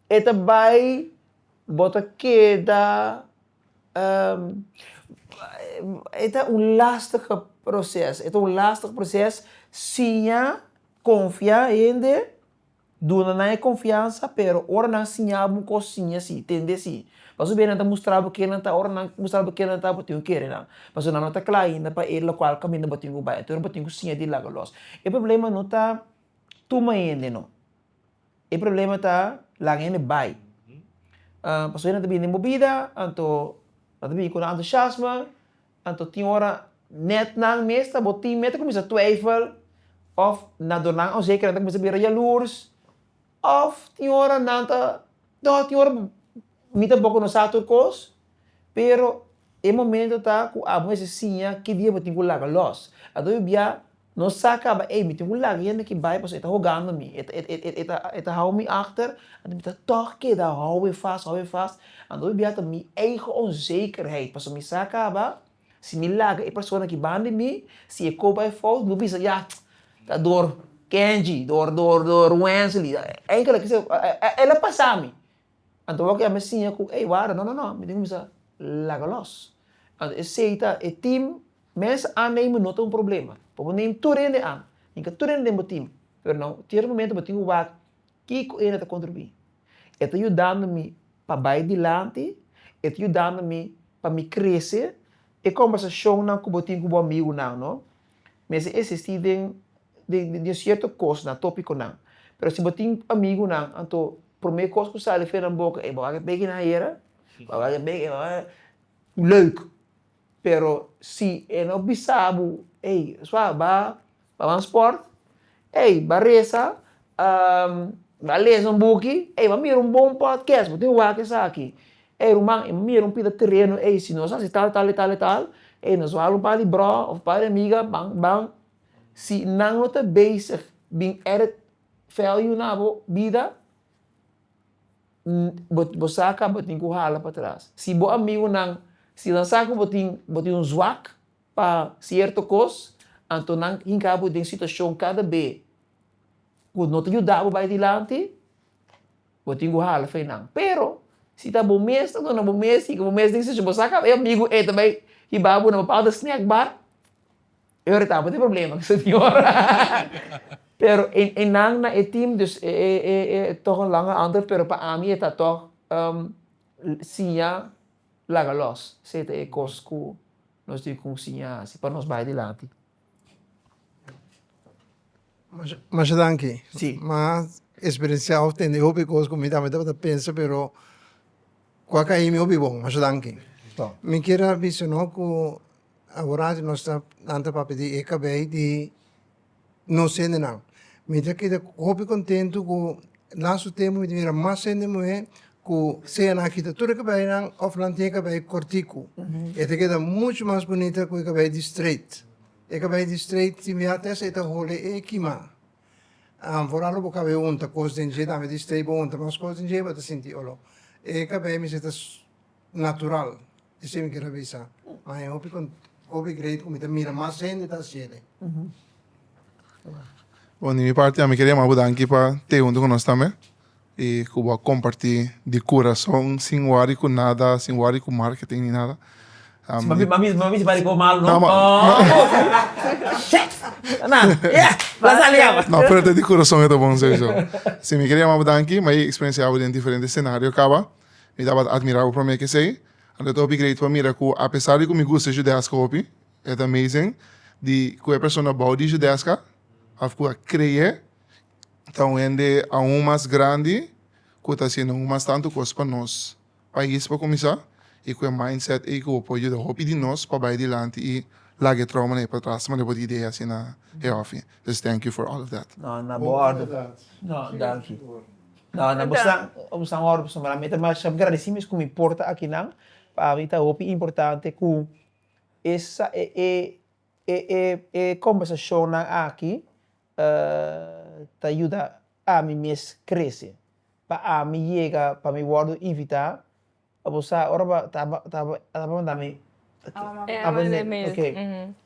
Speaker 1: e ta bay bo ta keda e ta un lastige proces, e ta un lastig proces siña, confia hende. Duna nan e konfiansa, pero ora nan siña bo un kos siña si, tende si. Pasobra aver nan ta mustra bo kinan nan ta, ora nan mustra bo kinan nan ta bo tin ku kere nan, pasobra nan no ta kla ainda pa e lokual kaminda bo tin ku bai. Anto bo tin ku siña di laga lòs. E problema no ta tuma hende no, e problema ta laga hende bai. Pasobra nan ta bini den bo bida, anto nan ta bini ku un entusiasma, Anto tin ora nèt nan mes ta bo tin mes ta kuminsá twèifel òf na dor nan onseke nan ta kuminsá bira yalurs òf tin ora nan ta tò tin ora mi ta bo ku no sa tur kos pero e momento ta ku abo mester siña ki dia bo tin ku laga lòs anto yu bia. Nos sa caba, ey, mi tin un laga hende ki bay pasobra e ta hogando mi, e ta, e ta hou mi achter, anto mi ta tog keda houden vast, houden vast, anto mi bia ta mi eigen onzekerheid, pasobra mi sa caba, si mi laga e persona ki ban di mi, si e koba e fout, mi lo bisa, ya, ta door Kenji, door, door, door Wensley, enkel a kiss, e lo pasa mi. Anto wak ya mi siña ku ey warda no no no mi tin kuminsá laga lòs. Anto esei ta e tim mes an ei mi no ta un problema pa bo neem tur hende an ni ka tur hende den bo tim pero na un cierto momento bo tin ku wak kiko ey na ta kontribuí. E ta yudando mi pa bai dilanti, e ta yudando mi pa mi krese, e kòmbersashonnan ku bo tin ku bo amigunan no mester esistí den di un cierto cos na topico nan. Pero si bo tin amigunan anto prome cos cu sali fue nan boca ey bo a wak e beki na ayera, bo a wak e beki bo a wak e leuk. Pero si e no bisa bo ey suave ba wan sport, ey ba resa, ba lesa un buki, ey ba mira un bon podcast bo tin wak esaki, ey ruman ey bo mira un pida tereno ey si nos a haci tal tal y tal y tal ey nos wak un par di bro of un par di amiga ban ban Si nan lo ta bezig bin edit value na bo bida, bo sa ka bo tin ku hala patras. Si bo amigunan, si nan sa ku bo tin bo tin un zwak pa sierto kos, anto nan hinka bo den situashon kada be ku no ta yuda bo bai dilanti, bo tin ku hala fe nan. Pero, si ta bo mes ta duna bo mes, bo sa ka e amigu e ta bai hiba bo na bo papia snack bar, E ora tabata e problema cu señor. Pero e nan na e team dus e toch un lange antwoord pero pa ami e ta toch siña laga los. Esey ta e cos cu nos tin cu siña haci pa nos bay dilanti. Masha danki ma experenciao tende e hopi cos cu mi tambe tabata pensa pero cu a cayimi hopi bon masha danki to mi kier a bisa no cu aworato nos ta nan ta papia di e cabay di nos hendenan mi ta keda hopi contento cu laso tempo mi ta bira mas hende muhe cu sea nan a kita tur e cabaynan of nan tin e cabay cortico e ta keda mucho mas bonita cu e cabay di straight. E ka bai di streit di miat esa e ta hole e kimá. An for a lo bo kabe hunta kos den dje tambe di streit bo hunta mas kos den dje bo ta sinti oló. E ka bai mester ta natural esei mi kira bisa ma e hopi con hopi greit ku mi ta mira mas hende ta hasiede. Bon di mi parti a mi kira yama bo danki pa te hunta ku nos tambe E cu bo a comparti di curason sin wari cu nada, sin wari cu marketing ni nada. Sin mami, mami, mami simbari cu bo malo, no? No, ma. Shit! Nan, yeah! Nan sali awa. No, pero ta di curason e ta bon sowieso. Si mi keda yama bo danki, ma e experiencia bo den diferente scenario caba, mi tabata admira bo prome kesey. Anto ta hopi great pa mira cu apesar di cu mi gusta Judesca hopi, e ta amazing di cu e persona bou di Judesca of cu a crea ta un hende aun mas grandi ku ta hasiendo aun mas tantu kos pa nos pais pa kuminsá i ku e mindset ei ku bo por yuda hopi di nos pa bai dilanti i laga e trouma na e patras manera bo ta idea hasi na e ofi. Des thank you for all of that. No, na bo òrdu. No, danki. No, na bo stan, bo stan òrdu pasobra ami ta masha gradisí mes ku mi por ta akinan. Pa ami ta hopi importante ku e sa e e e e e kombersashonnan aki ta yuda ami mes krese, pa ami yega pa mi wòrdu invitá. Bo sa ora bo a tabata manda mi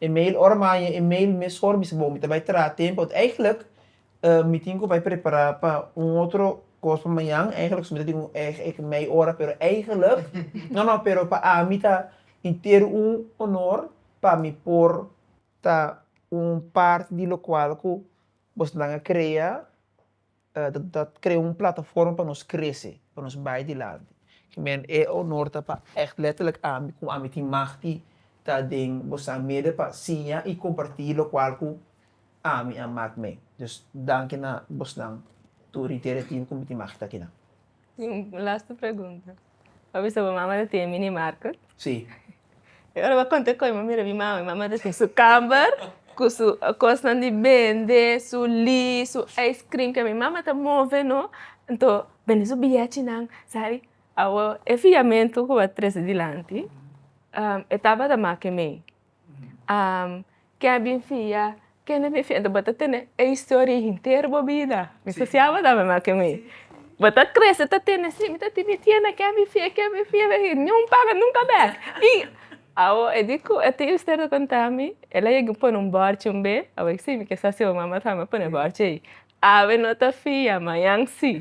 Speaker 1: email, ora mi a haña email mesor mi bo mi ta bai traha tempu. Eigentlik mi tin ku bai prepará pa un otro kos pa mañan, eigentlik mi ta tin un mei ora pero eigentlik no no pero pa ami ta henter un honor pa mi por ta un parti di lokual ku bosnan a krea, ta krea un plataforma pa nos krese, pa nos bai dilanti. Kimen e onor ta pa ègt lèterlek ami, ku ami tin mag di ta den bosan meda pa siña i kompartí lokual ku ami a mak me. Dus danki na bosnan tur di Tera Tibu ku mi tin mag di ta akinan. Tin un lastu pregunta. Bo a bisa bo mama ta tin e mini market? Sí. E ora bo a konta e kos mi a mira mi mama, mi mama ta tin su kamber ku su kosnan di bende, su li, su ice cream ke mi mama ta move no, nto bende su biachinan sali. Awo e fiamentu ku bo a trese dilanti e tabata make mei. Am, ke a bin fia, kende bin fia, bo ta tene e historia henter bo bida, mi ta siaba ta mi maki mi, bo ta krese ta tene si, mi ta timi tiene ke a bin fia, ke a bin fia, ni un paga nunka bek, i awo e di ku e tin historia ta konta mi, el a yega pone un bòrchi un be, a bo si mi ke sa siaba, mama ta mi pone bòrchi ei. Awe no ta fia, mañan si.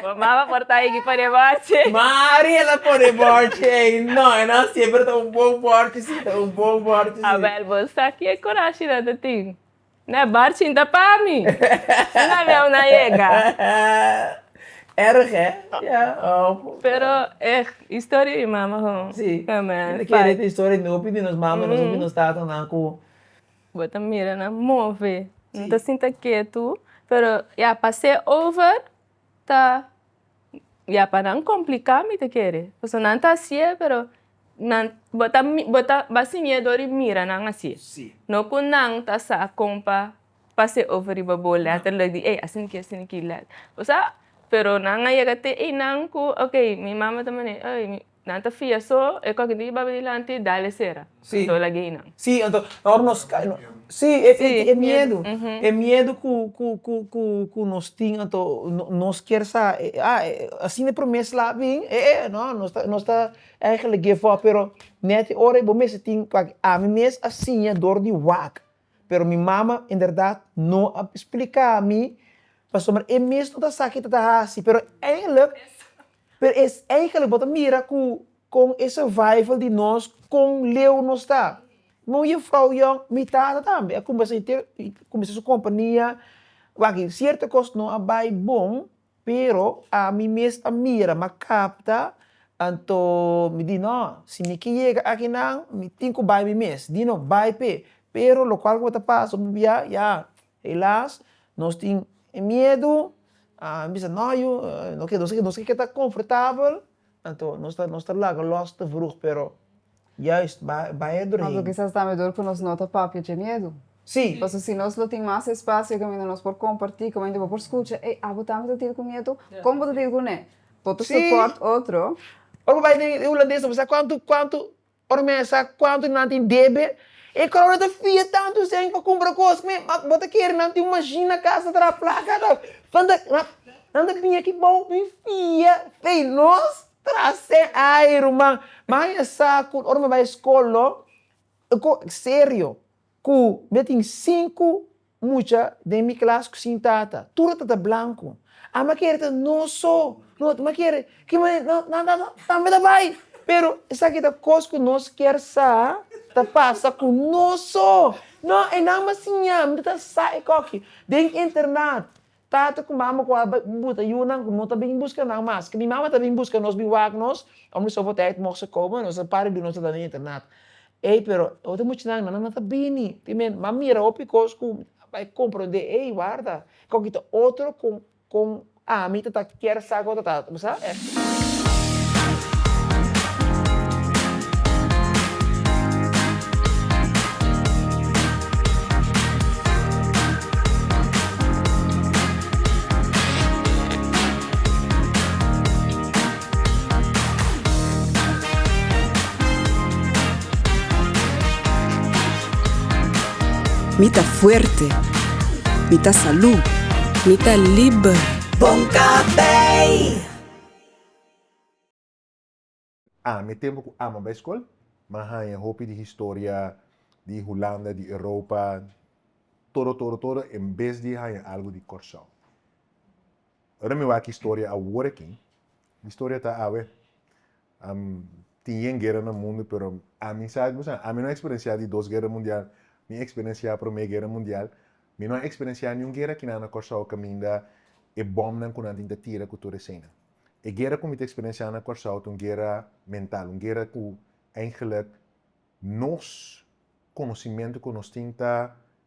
Speaker 1: Mama a por ta higi pa de bòrchi. Mariela por de bòrchi ei. No, e no siempre ta un bon bòrchi si, ta un bon bòrchi si. Abel, bo sa ki e kurashi nan ta tin? No e bòrchi ta pa mi. Si no aleu nan yega. Erg, eh? Pero e historia di mama ho. Si. Amen. Tin e kere ta historia di nos mama, nos tatanan ku. Bo ta mira nan move nan ta sinta ketu pero ya pa se over ta ya pa nan complicá mi ta kere pasobra nan ta hasi'e pero nan bo ta mi bo ta ba siñ'e dor di mira nan hasi'e no ku nan ta sa kon pa pa se over riba bo lèt ta lek di ey asina ki asina ki lèt o sa pero nan a yega te einan ku okay mi mama ta manera ey Nan ta fia so e koke di baba dilanti dale sera si do lagey nan. Si anto ora nos kai no si e miedu e miedu ku ku ku ku ku nos tin anto nos kier sa asina e prome slap bin e e no nos ta nos ta eigenlik give up pero net ora bo mester tin aki ami mes a siña dor di wak. Pero mi mama en berdad no a splica mi pasobra e mes no ta sa kico ta haci. Pero eigenlijk, pero es eigenlijk bo ta mira cu con e survival di nos con leu nos ta. Mi un juffrouw jong, mi tata tambe a cumbra su compania, wak, cierto cos no a bay bon. Pero ami mes a mira, m'a kapta, anto mi di nò, si mi ke yega aki nan, mi tin ku bai mi mes, di no bai p'e. Pero lokual ku mi ta pasa unu bia, ya helas nos tin e miedu, a bisa nò yu nos ke nos ke keda konfortabel. Anto nos ta nos ta laga los te vroeg pero juist ba baie doorheen. Anto kisas tambe door ku nos no ta papia dje miedu. Sí. Paso si nos lo tin mas espasio e kaminda nos por kompartí, kaminda bo por skucha, ey, abo tambe ta tir ku miedu? Kon bo ta tir kuné? Bo ta soport otro? Sí. Ora bo bai den e hulandes nan bo sa kuantu kuantu. Ora mi a sa cuantu nan tin debe, e crowd a ta fia tantu esei pa cumpra cos. Mi, ma bo ta kere nan tin un machine na cas ta traha placa? Ta, nan ta, nan, nan ta bini aki bou mi fia fei nos traha se ai ruman. Mi a sa cu ora mi a bai scol lo, serio. Ku mia tin sinku mucha den mi klas ku sin tata. Tur a tata blanku. A m'a kere ta no so. No, m'a kere. Ki manera? No, no, no, no. Tambe ta bai. Pero esaki ta kos ku nos kier sa ta pasa ku noso. No, e nan m'a siña. Mi no ta sa e koki. Den internat, Tata ku mama ku a buta yunan ku no ta bin buska nan mas. Ke mi mama ta bin buska nos, bin wak nos, ora mi sofo tei moso kobo en nos a para di duna nos ta den internat. Ey pero e otro mucha nan nan no ta bini, tin men nan mira hopi kos ku a bai compronde ey warda, koki ta otro kon kon ami ta ta. Kier sa cu ta ta bo sa e. Mi ta fuerte. Mi ta salud. Mi ta liber. Bon Café! Aa, mi e tempo cu Ama bay scol, m'a hanja hopi di historia di Hulanda, di Europa, todo, todo, todo, en bes di hanja algo di Corsow. Ora mi wak historia awor aki, di historia ta awe. A tin yen guera na mundu pero ami sa ku sa ami no a eksperensiá di dos guera mundial mi a eksperensiá promé guera mundial mi no a eksperensiá niun guera ki nan na Kòrsou kaminda e bòmnan ku nan tin ta tira ku tur eseinan e guera ku mi ta eksperensiá na Kòrsou ta un guera mental un guera ku eingelijk nos konosimentu ku nos tin ta